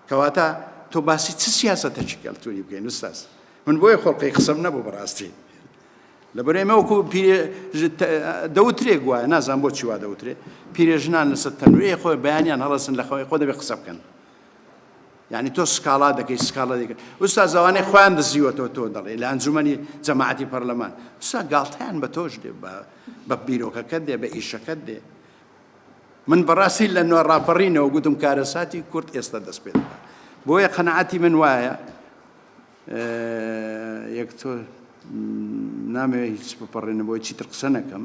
کەواتە تۆ باسی چ سیاسەتەکی کەلتوری بکەین استاز من بۆیە خۆڵقی قسەم نەبوو بەڕاستی لەبەر ئێمە وەکو دەوترێک وایە نازان بۆ چیوا دەوترێ پیرێژنان لەسەر تەنورەیە خۆی بەیانیان هەڵەسن لە خەوەی خۆ دەبێ قسە بکەن یعنی تۆ سکاڵا دەکەی سکاڵا دەکەن ئوستا زوانەی خۆیان دەزیوەەوە تۆ دەڵێ لە ئەنجومنی جەماعەتی پەرلەمان سا گاڵتەیان بە تۆش دێ بە بیرۆکەکەت دێ بە ئیشەکەت دێ من بەڕاستی لە نوێ ڕاپەڕینەوە گوتم کارەساتی کورد ئێستا دەست پێ دەکات بۆیە قەنەعاتی من وایە یەک تۆ نامێ هیچ بپەڕێنە بۆی چیتر قسە نەکەم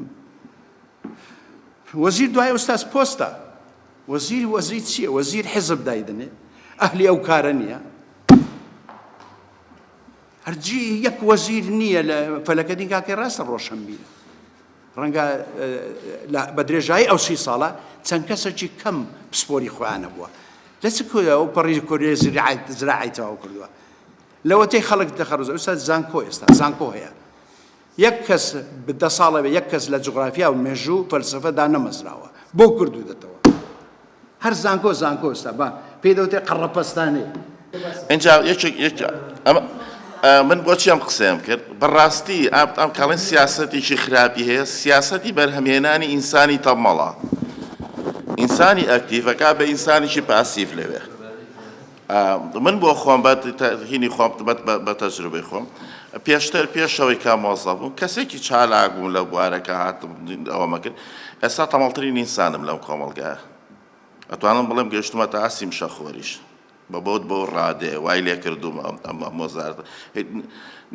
وەزیر دوای ئوستاز پۆستە وەزیر وەزیر چییە وەزیر حزب دایدنێ ئەهلی ئەو کارە نییە هەرجی یەک وەزیر نییە لە فەلەکەدین کاکەی ڕاستە ڕۆشنبیرە ڕەنگە بە درێژایی ئەو سی ساڵە چەند کەسێکی کەم پسپۆری خۆیان نەبووە لە چ کۆیە ئەو پەڕی کۆرێ زراعی تەواو کردووە لەوەتەی خەڵک دەخەڕز ئەوسا زانکۆ ئێستا زانکۆ هەیە یەک کەس دە ساڵە بێ یەک کەس لە جغرافیا و مێژوو و فەلسفەدا نەمەزراوە بۆ کردو دەتەوە هەر زانکۆ زانکۆ ستا با پێی دەوتێ قەڕەپەستانەی. ئینجا یەکێک یەک ئەمە من بۆچی ئەم قسەیەم کرد بەڕاستی ئاب ئەم کاڵێن سیاسەتێکی خراپی هەیە سیاسەتی بەرهەمهێنانی ئینسانی تەمەڵە ئینسانی ئەکتیڤەکە بە ئینسانیکی پاسیڤ لەوێ من بۆ خۆم بە هینی خۆم بەت بە تەجروبەی خۆم پێشتر پێشەوەی کا مۆزە بووم کەسێکی چالاک بووم لە بوارەکە هاتم ئەوەمە کرد ئێستا تەمەڵترین ئینسانم لەم کۆمەڵگایە ئەتوانم بڵێم گەشتمە تا ئاسی مشەخۆریش بە بۆت بۆ ڕادێ وای لێ کردوم ئەمە مۆزار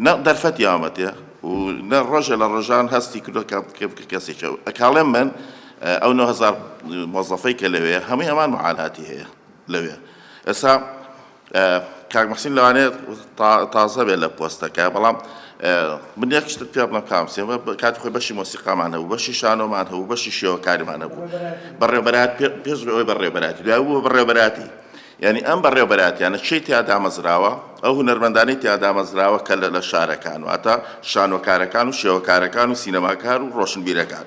نە دەرفەت یامەتێ و نە ڕۆژە لە ڕۆژان هەستی کردو کەسێکە ئەکاڵێم من ئەو 9هزار مۆزەفەی کە لەوێ هەمووی ئەمان معالهاتی هەیە لەوێ ئێستا کاک مەحسین لەوانەیە تازە بێت لە پۆستەکە بەڵام من یەک شتت پێ بڵم کام سێمە کات خۆی بەشی مۆسیقامان هەبوو بەشی شانۆمان هەبوو بەشی شێوەکاریمان هەبوو بەڕێبەرات پێش بەوەی بەڕێبەراتی دوای بوو بەڕێبەراتی یعنی ئەم بەڕێبەراتیانە چی تیا دامەزراوە ئەو هونەرمەندانی تیا دامەزراوە کە لە شارەکان واتە شانۆکارەکان و شێوەکارەکان و سینەماکار و ڕۆشنبیرەکان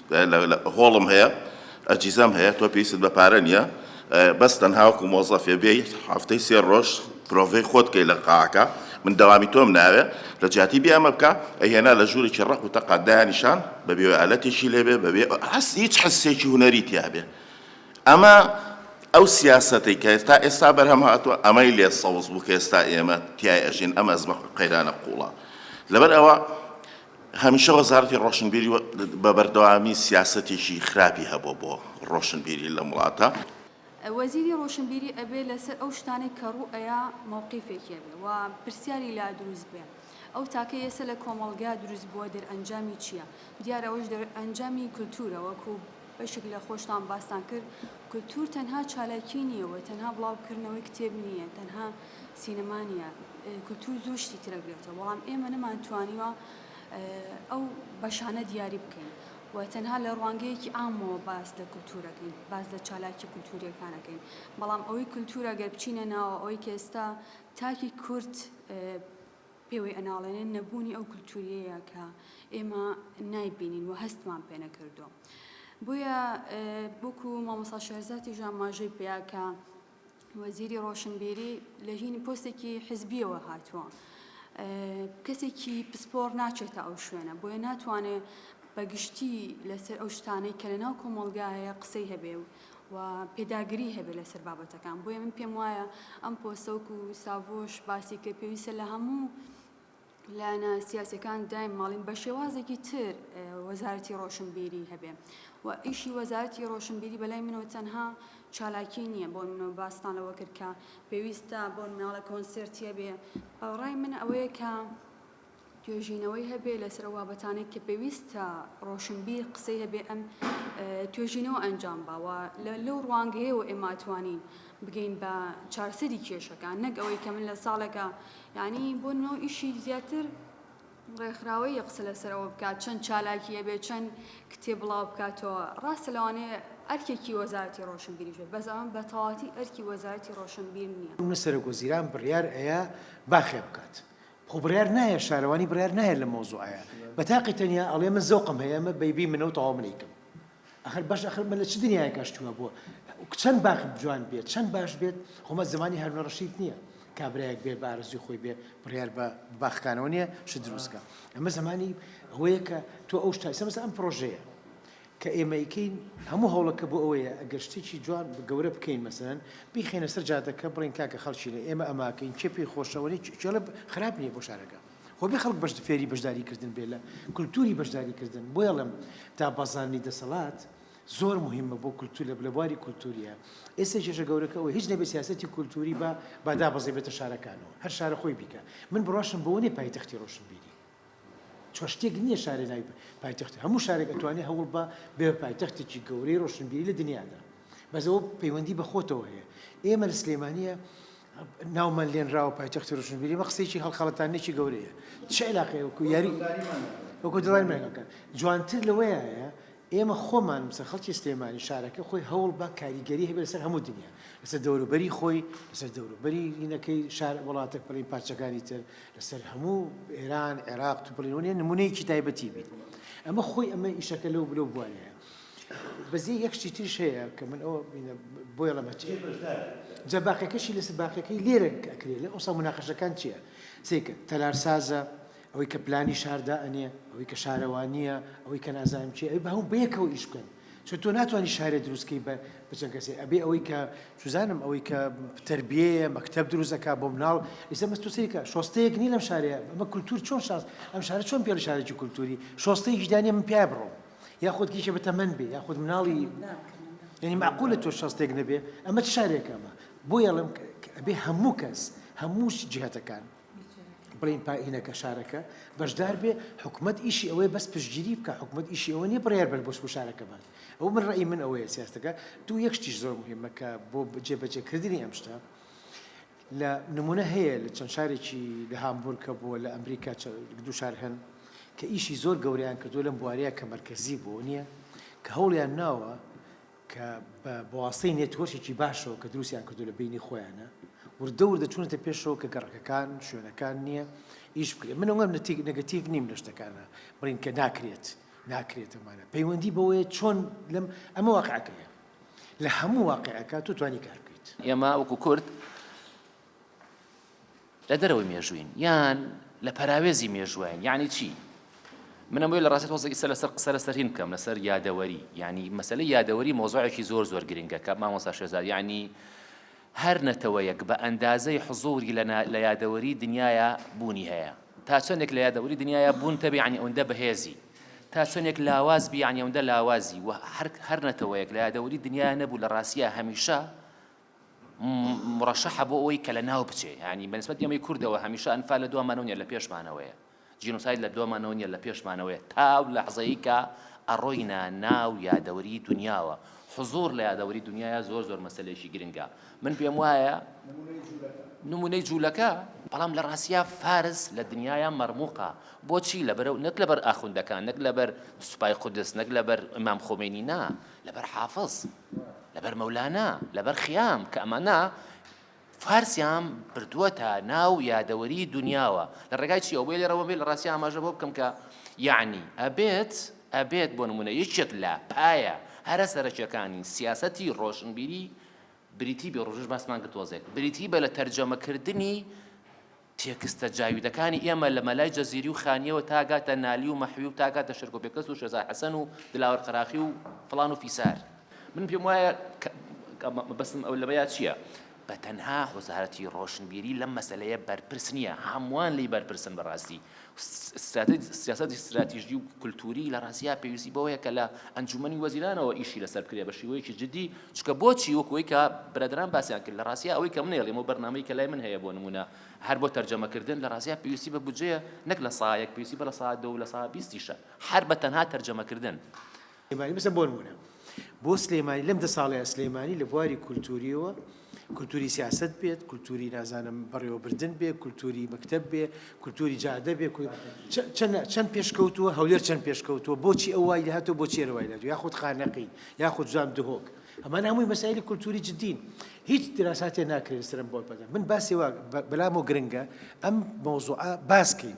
هۆڵم هەیە ئەجیزەم هەیە تۆ پێویستت بە پارە نیە بەس تەنها وەکو مۆزەفێ بێی هەفتەی سێ ڕۆژ پرۆڤەی خۆت کەی لە قاعەکە من دەوامی تۆم ناوێ لە جیاتی بێ ئەمە بکە ئەیهێنا لە ژوورێکی ڕەق و تەقا دایانیشان بە بێوەالەتێکی لێبێ بەبێ هەست هیچ حسێکی هونەری تیابێ ئەمە ئەو سیاسەتی کە تا ئێستا بەرهەم هاتووە ئەمەی لێ سەوز بوو کە ئێستا ئێمە تای ئەژین ئەم ئەزمە قەیرانە قوڵە لەبەر ئەوە هەمیشە وەزارەتی ڕۆشنبیری بە بەردەوامی سیاسەتێکی خراپی هەبووە بۆ ڕۆشنبیری لەم وڵاتە. وەزیری ڕۆشنبیری ئەبێ لەسەر ئەو شتانەی کە ڕوو ئەیا مەوقیفێکی هەبێ و پرسیاری لا دروست بێ. ئەو تاکەی ئێستا لە کۆمەڵگا دروست بووە دەرئەنجامی چییە؟ دیارە ئەوەش دەرئەنجامی کولتوورە وەکوو. بەشێک لە خۆشتان باستان کرد کلتور تەنها چالاکی نیە و تەنها بڵاو کردنەوەی کتێب نیە تەنها سینەما نیە کلتور زۆر شتی ترە گرێتە بەڵام ئێمە نەمان توانیوە ئەو بەشانە دیاری بکەین و تەنها لە ڕوانگەیەکی ئامەوە باس لە کلتورەکەین باس لە چالاکی کلتوریەکانەکەین بەڵام ئەوەی کلتورە گەر بچینە ناوە ئەوەی کە ئێستا تاکی کورد پێوەی ئەناڵێنێ نەبوونی ئەو کلتوریەیە کە ئێمە نایبینین و هەستمان پێ نەکردووە بۆیە وەکو مامۆسا شێرزاتیش ئاماژەی پێیا کە وەزیری ڕۆشنبیری لە هینی پۆستێکی حزبیەوە هاتووە کەسێکی پسپۆڕ ناچێتە ئەو شوێنە بۆیە ناتوانێت بەگشتی لەسەر ئەو شتانەی کە لە ناو کۆمەلگایە قسەی هەبێ و و پێداگری هەبێت لەسەر بابەتەکان بۆیە من پێم وایە ئەم پۆستە وەکو ساڤۆش باسی کرد پێویستە لە هەموو لایەنە سیاسەکان دایم ماڵین بە شێوازێکی تر وەزارەتی ڕۆشنبیری هەبێ و ئیشی وەزارەتی ڕۆشنبیری بەلای منەوە تەنها چالاکی نییە بۆ منەوە باستان لەوە کرد کە پێویستە بۆ مناڵە کۆنسرتیە بێ ڕای من ئەوەیە کە توێژینەوەی هەبێ لەسەر ئەو بابەتانەی کە پێویستە ڕۆشنبیر قسەی هەبێ ئەم توێژینەوە ئەنجام با و لەو ڕوانگەیەوە ئێمە ئەتوانین بگەین بە چارسەری کێشەکان نەک ئەوەی کە من لە ساڵێکە یعنی بۆ نۆ ئیشی زیاتر ڕێکخراوەی یە قسە لەسەرەوە بکات چەند چالاکیە بێ چەند کتێب بڵاو بکاتەوە ڕاستە لەوانەیە ئەرکێکی وەزارەتی ڕۆشنبیریش بێت بەس ئەوان بە تەواتی ئەرکی وەزارەتی ڕۆشنبیر نییە. نە سەرۆک وەزیران بڕیار ئەیا باخێ بکات خۆ بڕیار نایە شارەوانی بڕیار نایە لەم مەوزوعەیا بەتاقی تەنیا ئەڵێ من زەوقم هەیە مە بەیبی منە و تەواو من ئەیکەم ئەخر باش ئەخر مە لە چ دنیایەکە شتووە بووە چەند باخ جوان بێت چەند باش بێت خۆمە زمانی هەرنە ڕەشید نییە کابراەک بێ بە ئارزوی خۆی بێ بڕیار بە باخکانەوە نییە شت دروستکە ئەمە زمانی ئەوەیە کە تۆ ئەو شتایسە مەسە ئەم پرۆژەیە کە ئێمە ئەیکەین هەموو هەوڵەکە بۆ ئەوەیە ئەگەر شتێکی جوان گەورە بکەین مەسەلەن بیخەینە سەر جادەکە بڵێین کاکە خەڵکینە ئێمە ئەماکەین کێ پێی خۆشە ئەوە نیە کێڵێ خراپ نیە بۆ شارەکە خۆ بێ خەڵک بەش فێری بەشداری کردن بێ لە کولتوری بەشداری کردن بۆیە ئەڵێم دابەزاندنی دەسەڵات زۆر مهمە بۆ کولتور لە لە بواری کولتوریە ئێستا کێشە گەورەکە ئەوە هیچ نەبێ سیاسەتی کولتوری بە با دابەزێبێتە شارەکانەوە هەر شارە خۆی بیکە من بڕواشم بۆ نێ پایتەختی ڕۆشنبیری چوار شتێک نییە شارێ ناوی پایتەختی هەموو شارێک ئەتوانێ هەوڵ بە بێ پایتەختێکی گەورەی ڕۆشنبیری لە دنیادا بەس ئەوە پەیوەندی بە خۆتەوە هەیە ئێمە لە سلێمانیە ناومان لێنراوە پایتەختی ڕۆشنبیری مە قسەیەکی هەڵخەڵەتانێکی گەورەیە چ علاقەیە وەکو یاری وەکو دڵای مێنەکە جوانتر لەوەیە ئێمە خۆمان مسە خەڵکی سلێمانی شارەکە خۆی هەوڵ بە کاریگەری هەبێت لەسەر هەموو دنیا لەسەر دەوروبەری خۆی لەسەر دەوروبەری لینەکەی شار وڵاتە پەڵی پارچەکانی تر لەسەر هەموو ئێران عێراق تو بڵێ نیە نمونەیەکی تایبەتی بیت ئەمە خۆی ئەمە ئیشەکە لەو بلو بووانەیە بەزی یەک شتی ترش هەیە کە من ئەو بۆی ڵەمە جە باقەکەشی لەس باقەکەی لێرە ئەکرێت لە ئەوسا مناقەشەکان چییە سیکە تەلارسازە ئەوەی کە پلانی شاردا ئەنێ ئەوەی کە شارەوانییە ئەوەی کە نازانم چی ئەوی بە هەوو بەیەکەوە ئیش بکەن چون تۆ ناتوانی شارێ دروست کەی بە چەند کەسێ ئەبێ ئەوەی کە چزانم ئەوەی کە تربیەیە مەکتب دروزەکە بۆ مناڵ ئیسە مەست سریکە شۆستەیەک نی لەم شارەیە ئەمە کولتور چۆن شاز ئەم شارە چۆن پێ شارێکی کولتوری شۆستەی ژدانی من پێ بڕۆ یاخود کیشە بە تەمەەن بێ یاخود مناڵی یعنی معقولە تۆ شەستێک نەبێ ئەمە شارێکەمە بۆ یاڵم بێ هەموو کەس هەمووش جهتەکان بڵین پائینەکە شارەکە بەشدار بێ حکوومەت ئیشی ئەوەیە بەس پشتگیری بکە حکوومەت ئیشی ئەوە نیە بڕێر بەر بۆش بۆ شارەکە بات ئەو من ڕێی من ئەوەیە سیاستەکە دوو یەکشتیش زۆر مهمەکە بۆ جێبەجێکردنی ئەم شتە لە نمونە هەیە لە چەند شارێکی لە هامبورکە بووە لە ئەمریکا دو شار هەن کە ئیشی زۆر گەوریان کردو لەم بواریە کە مرکزی بۆ نییە کە هەوڵیان ناوە کە بە بەواستەی نێتوۆرکێکی باشەوە کە دروستیان کردو لە بەینی خۆیانە وردە وردە چونەتە پێشەوە کە گەڕەکەکان شوێنەکان نییە ئیش بکرێت من ئەوەم نەتیک نگەتیڤ نیم لە شتەکانە بڵین کە ناکرێت ناکرێتەمانە پەیوەندی بەوەیە چۆن لەم ئەمە واقعەکەیە لە هەموو واقعەکە تو توانی کار بکەیت ئێمە وەکو کورد لە دەرەوەی مێژووین یان لە پەراوێزی مێژووین یعنی چی منە بۆی لە ڕاستی تۆزە ئیسە لەسەر قسە لەسەر هین بکەم لەسەر یادەوەری یعنی مەسلەی یادەوەری مۆزۆعێکی زۆر زۆر گرنگە کە مامۆستا شێزار یعنی هەر نەتەوەیەک بە ئەندازەی حزوری لە یادەوەری دنیاە بوونی هەیە تا چەندێک لە یادەوەری دنیاە بوون تەبیعنی ئەوەندە بەهێزی تا چەندێک لاواز بیانیەوەندە لاوازی و هەر هەر نەتەوەیەک لە یادەوەری دنیا نەبوو لە ڕاستە هەمیشە مڕەشەحە بۆ ئەوەی کە لە ناو بچێ یانی بەنسبەت ئێمەی کوردەوە هەمیشە ئەنفال لە دوامانەوە نیە لە پێشمانەوەیە جینۆساید لە دوامانەوە نیە لە پێشمانەوەیە تاو لەحزەیە کە ئەڕۆینە ناو یادەوەری دنیاوە حزور لە یادەوەری دنیاە زۆر زۆر مەسلێکی گرنگە من پێم وایە نمونەی جوولەکە بەڵام لە ڕاستە فارس لە دنیاە مەرموقە بۆچی لەبەر نەک لەبەر ئاخوندەکان نەک لەبەر سوپای قودس نەک لەبەر ئەمام خۆمێنی نا لەبەر حافظ لەبەر مەولانا لەبەر خیام کە ئەمانە فارسیان بردووەتە ناو یادەوەری دنیاوە لە ڕێگای چی ئەو بێ لێرەوە بێ لە ڕاستی ئاماژە بۆ بکەم کە یعنی ئەبێت ئەبێت بۆ نمونە یەکێک لە پایە هەرە سەرەکیەکانی سیاسەتی ڕۆشنبیری بریتی بێ ڕژش باسمان کرد تۆزێک بریتی بە لە تەرجەمەکردنی تێکستە جاویدەکانی ئێمە لە مەلای جەزیری و خانیەوە تا گاتە نالی و مەحوی و تا گاتە شێرکۆ پێکەس و شێزار حەسەن و دلاوەر قەراخی و فڵان و فیسار من پێم وایە مەبەستم ئەو لەمەیا چییە؟ بە تەنها وەزارەتی ڕۆشنبیری لەم مەسەلەیە بەرپرس نییە هەمووان لی بەرپرسن بەڕاستی سیاسەتی ستراتیژی و کولتووری لە ڕاسیا پێویستی بەوەیە کە لە ئەنجومەنی وەزیرانەوە ئیشی لەسەر بکرێ بە شیوەیەکی جدی چکە بۆچی وەکوی کە برادران باسیان کرد لە ڕاسیا ئەوەی کە منێڵیم و بەرنمەی کە لای من هەیە بۆ نمونە هەر بۆ تەرجەمەکردن لە ڕاسیا پێویستی بە بودجەیە نەک لە سایەک پێویستی بە لە سا دە و لە سا بیستیشە هەر بە تەنها تەرجەمەکردن سلێمانی بسە بۆنمونە بۆ سلێمانی لەم دە ساڵەیە سلێمانی لە بواری کولتوریەوە کولتوری سیاست بێت کولتوری نازانم بەڕێوەبردن بێ کولتوری مەکتب بێ کولتوری جادە بێ چەند پێشکەوتووە هەولێر چەند پێشکەوتووە بۆچی ئەو وای لەهاتەوە بۆ چێرەوای لە یاخود خانەقی یاخود جوان دهۆک ئەمان هەمووی مەسایلی کولتوری جدین هیچ دراساتێ ناکرێن سرم بۆ بەدە من باسی وا بەلام و گرنگە ئەم مۆزوعە باسکەین.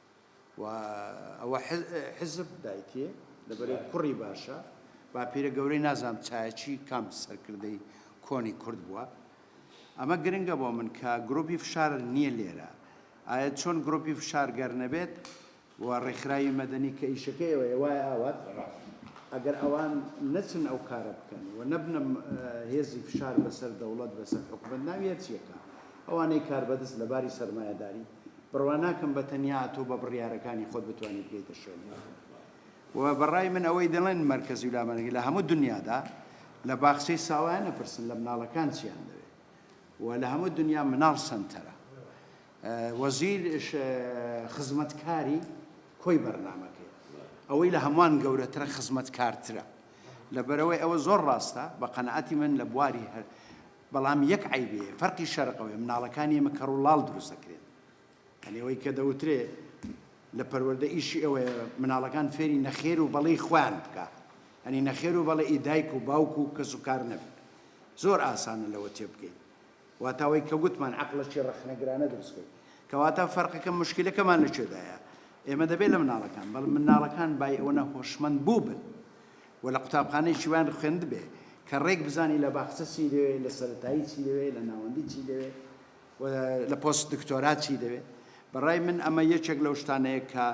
وە ئەوە حیزب دایکێ لەبەرێ کوڕی باشە باپیرە گەورەی نازانم چایەچی کام سەرکردەی کۆنی کورد بووە ئەمە گرنگە بۆ من کە گروپی فشار نییە لێرە ئایا چۆن گروپی فشار گەر نەبێت و ڕێکخراوی مەدەنی کە ئیشەکەیەوەیە وای ئاوات ئەگەر ئەوان نەچن ئەو کارە بکەن و نەبنە هێزی فشار بەسەر دەوڵەت بەسەر حکومت ناوی هەرچیەکە ئەوانەی کاربەدەست لەباری سەرمایەداری بڕوا ناکەم بە تەنیا تۆ بە بڕیارەکانی خۆت بتوانیت بێیتە شوێنی ئەوان و بەڕای من ئەوەی دەڵێن مەرکەزی و لامەرەنگی لە هەموو دنیادا لە باخچەی ساوایان نەپرسن لە مناڵەکان چیان دەوێت و لە هەموو دنیا مناڵ سنتەرە وەزیر خزمەتکاری کۆی بەرنمەکەی ئەوەی لە هەمووان گەورەترە خزمەتکارترە لەبەرەوەی ئەوە زۆر ڕاستە بە قەنەعەتی من لە بواری هەر بەڵام یەک عەیبێ فەرقی شەرق ئەوێ مناڵەکان ئێمە کەڕ و ڵاڵ دروست ئەکرێن یەعنی ئەوەی کە دەوترێ لە پەروەردە ئیشی ئەوەیە مناڵەکان فێری نەخێر و بەڵێی خۆیان بکا یەعنی نەخێر و بەڵێ ئی دایک و باوک و کەس و کار نەبێ زۆر ئاسانە لەوە تێ بگەین واتا ئەوەی کە گوتمان عەقڵەکی ڕەخنەگرانە دروست کرد کەواتە فەرقەکە مشکلەکەمان لە کوێدایە ئێمە دەبێ لە مناڵەکان بەڵ مناڵەکان بای ئەوەنە هۆشمەند بووبن و لە قوتابخانەیەکی وایان خوێندبێ کە ڕێک بزانی لە باخچە چی دەوێ، لە سەرەتایی چی دەوێ، لە ناوەندی چی دەوێ و لە پۆست دکتۆرا چی دەوێ. بە ڕای من ئەمە یەکێک لەو شتانەیە کە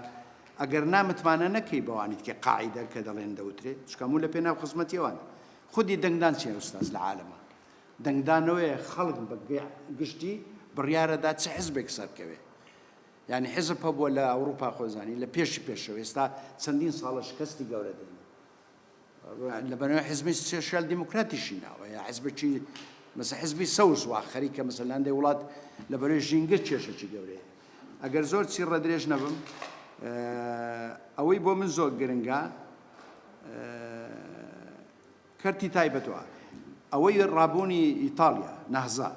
ئەگەر نا متمانە نەکەی بەوانی تکێ قاعیدە کە دەڵێن دەوترێ چونکە هەموو لە پێناو خزمەتی ئەوانە. خودی دەنگدان چیە ئوستاز لە عالەما؟ دەنگدانەوەیە خەڵک بە گشتی بڕیارەدا چ حزبێک سەرکەوێ. یانی حیزب هەبووە لە ئەوروپا خۆ زانی لە پێشی پێشەوە ئێستا چەندین ساڵە شکەستی گەورە دێنێ لەبەرەوە حزبی سوسیال دیموکراتیشی ناوە یا حزبی مەسە حزبی سەوز وا خەریکە مەسەلاندەی وڵات لەبەرەوەی ژینگە کێشەکی گەورەیە ئەگەر زۆر چی ڕەدرێژ نەبم ئەوەی بۆ من زۆر گرنگە کەرتی تایبەت و ئەوەی ڕابوونی ئیتاڵیا، نەهزە،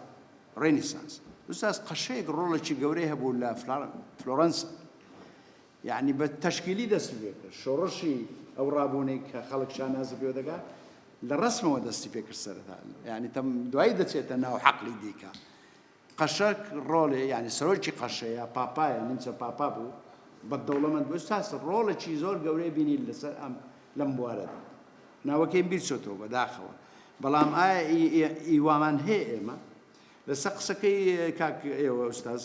ڕێنیسانس، ئوستاز قەشەیەک ڕۆڵێکی گەورەی هەبوو لە فلۆرەنسا یەعنی بە تەشکیلی دەستی پێکرد شۆڕشی ئەو ڕابوونەی کە خەڵک شانازی پێوە دەکات لە ڕسمەوە دەستی پێکرد سەرەتا یعنی تەم دوایی دەچێتە ناو حەقلی دیکە قەشە ڕۆڵێ یانی سەرۆکی قەشەیە پاپایە نیمچە پاپا بوو بە دەوڵەمەند بوو ساس ڕۆڵێکی زۆر گەورەی بینی لەسەر ئەم لەم بوارەدا ناوەکەی بیر چۆتەوە بەداخەوە بەڵام ئایا ئیوامان هەیە ئێمە لەسەر قسەکەی کاک ئێوە ئوستاز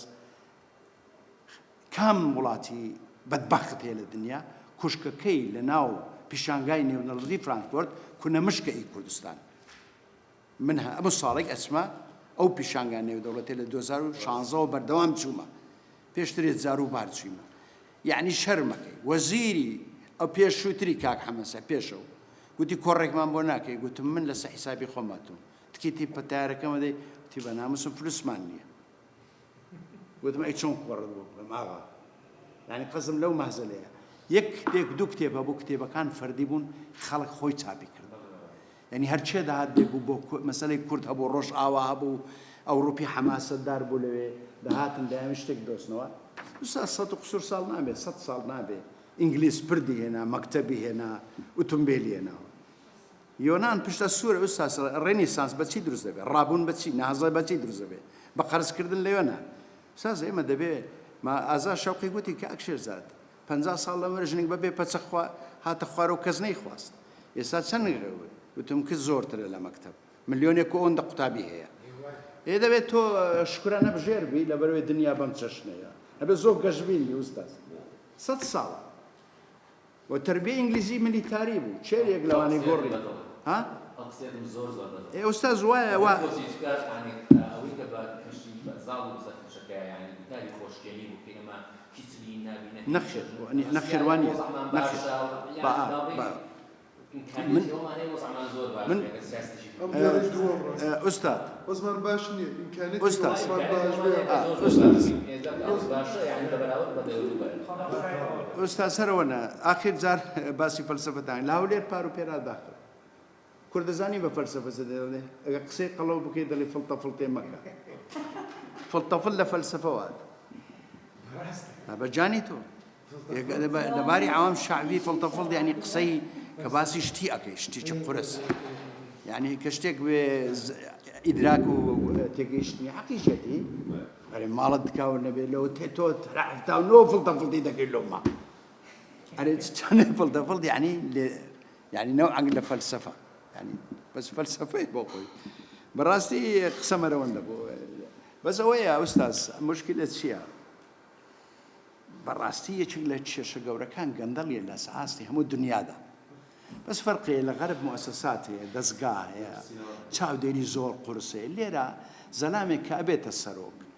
کام وڵاتی بەدبخت هەیە لە دنیا کوشکەکەی لە ناو پیشانگای نێونەڵدی فرانکۆرت کونە مشکە ئی کوردستان من هەموو ساڵێک ئەچمە ئەو پیشانگا نێودەوڵەتیە لە دوو هەزار و شانزە وە بەردەوام چوومە پێشتر یە جارو بار چوویمە یەعنی شەرمەکەی وەزیری ئەو پێشووتری کاک حەمەسە پێشەو گوتی کۆڕێکمان بۆ ناکەی گوتم من لەسە حیسابی خۆم هاتووم تکیتی پەتارەکەمە دەی تی بە ناموسم فلوسمان نییە گوتم ئەی چۆن کۆڕت بۆ بڵێم ئاغا یعنی قەزم لەو مەهزەلەیە یەک کتێک دوو کتێب هەبوو کتێبەکان فەردی بوون خەڵک خۆی چاپی کرد یانی هەر کێ دەهات دەیگوو بۆ کو مەسەلەی کورد هەبوو ڕۆژئاوا هەبوو ئەوڕوپی حەماسەتدار بوو لەوێ دەهاتن دەیانوی شتێک بدۆزنەوە ئوستا سەد و قسوور ساڵ نابێ سەد ساڵ نابێ ئینگلیس پردی هێنا مەکتەبی هێنا ئوتومبێلی هێناوە یۆنان پشتە سوورە ئوستا ڕێنیسانس بە چی دروست دەبێ ڕابوون بە چی نازڵێ بە چی دروست دەبێ بە قەرزکردن لە یۆنان ساز ئێمە دەبێ ما ئازا شەوقی گوتی کە ئەکشێرزاد پەنجا ساڵ لەمەر ژنێک بەبێ پەچە خوا هاتە خوارەو کەس نەیخواست ئێستا چەند گرەوەی وتم کچ زۆرترە لە مەکتەب ملیۆنێک و ئەوەندە قوتابی هەیە ئێ دەبێت تۆ شکرانە بژێر بی لەبەرەوەی دنیا بەم چەشنەیە ئەبێ زۆر گەشبین بی ئوستاز سەد ساڵە و تربیە ئینگلیزی ملیتاری بوو چێرێک لەوانەی گۆڕی ها ئەم قسەیە من زۆر زۆر دەزانم. ئێ ئوستاز وایە وا بۆچی چکە یانی ئەوەی کە بە کەشتی بەزاڵ و سەرکەشەکە یانی گوتاری خۆشکێنی بوو کە ئێمە نەخێر نەخێر وا نییە نەخێر با با من من استاد عثمان باش نییە امکانیت استاد استاد استاد سەرەوەە ئاخر جار باسی فەلسفەتان لە هەولێر پار و پێرا داخل کورد دەزانی بە فەلسەفە چ دەڵێ ئەگەر قسەی قەڵەو بکەی دەڵێ فڵتە فڵتێ مەکە فڵتە فڵ لە فەلسەفە وات بە جانی تۆ لەباری عوام شعبی فڵتە فڵ یعنی قسەی کە باسی شتی ئەەکەی شتی چ قرس یعنی کە شتێک بێ ئیدراک و تێگەیشتنی حەقیشەتی ئەرێ ماڵت دکاوە نەبێ لەوە تێ تۆ تەرەفتا و نۆ فڵتە فڵتی دەکەی لۆما ئەرێ چ چەنێ فڵتە فڵ یعنی لێ یانی نەوعەک لە فەلسەفە یانی بەس فەلسەفەی بۆ خۆی بەڕاستی قسە مەرەوەندە بۆ بەس ئەوەیە ئوستاز مشکلە چییە؟ بەڕاستی یەکێک لە کێشە گەورەکان گەندەڵیە لە سەئاستی هەموو دنیادا بەس فەرقێ لە غەرب موسەسات هەیە دەستگا هەیە چاودێری زۆر قورسێ لێرە زەلامێک کابێتە سەرۆک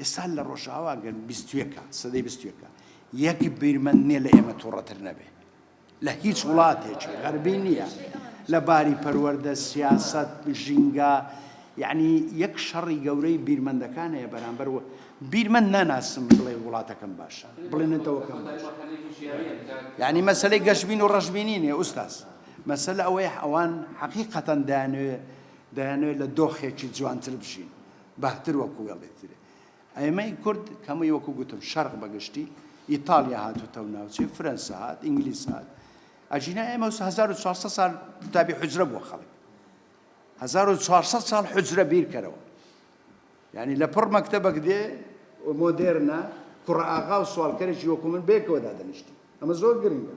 ئێستا لە ڕۆژئاوا گەر بیست و یەکە سەدەی بیست و یەکە یەک بیرمەند نیە لە ئێمە توڕەتر نەبێ لە هیچ وڵاتێکی غەربی نییە لە باری پەروەردە سیاست ژینگە یعنی یەک شەڕی گەورەی بیرمەندەکان هەیە بەرامبەر و بیرمەند ناناسم بڵێ وڵاتەکەم باشە بڵێنێتەوەکەم باش یعنی مەسلەی گەشبین و ڕژبینی نیە ئوستاز مەسل ئەوەیە ئەوان حەقیقەتەن دانوێ دەیانوێت لە دۆخێکی جوانتر بژین بەهتر وەکو وێڵێت ترێ ئەێمەی کورد کەمەی وەکو گوتم شەرق بەگشتی ئیتالیا هاتوتە و ناوچێ فرەنسا هات ئینگلیس هات ئەجینا ئێمە 1400 سال قوتابی حجرە بووە خەڵک 1400 سال حجرە بیرکەرەوە یعنی لە پڕ مەکتتەبەک دێ مۆدێرنە کوڕ ئاغا و سوالکەرێکی وەکو من بێکەوە دادەنیشتی ئەمە زۆر گرنگە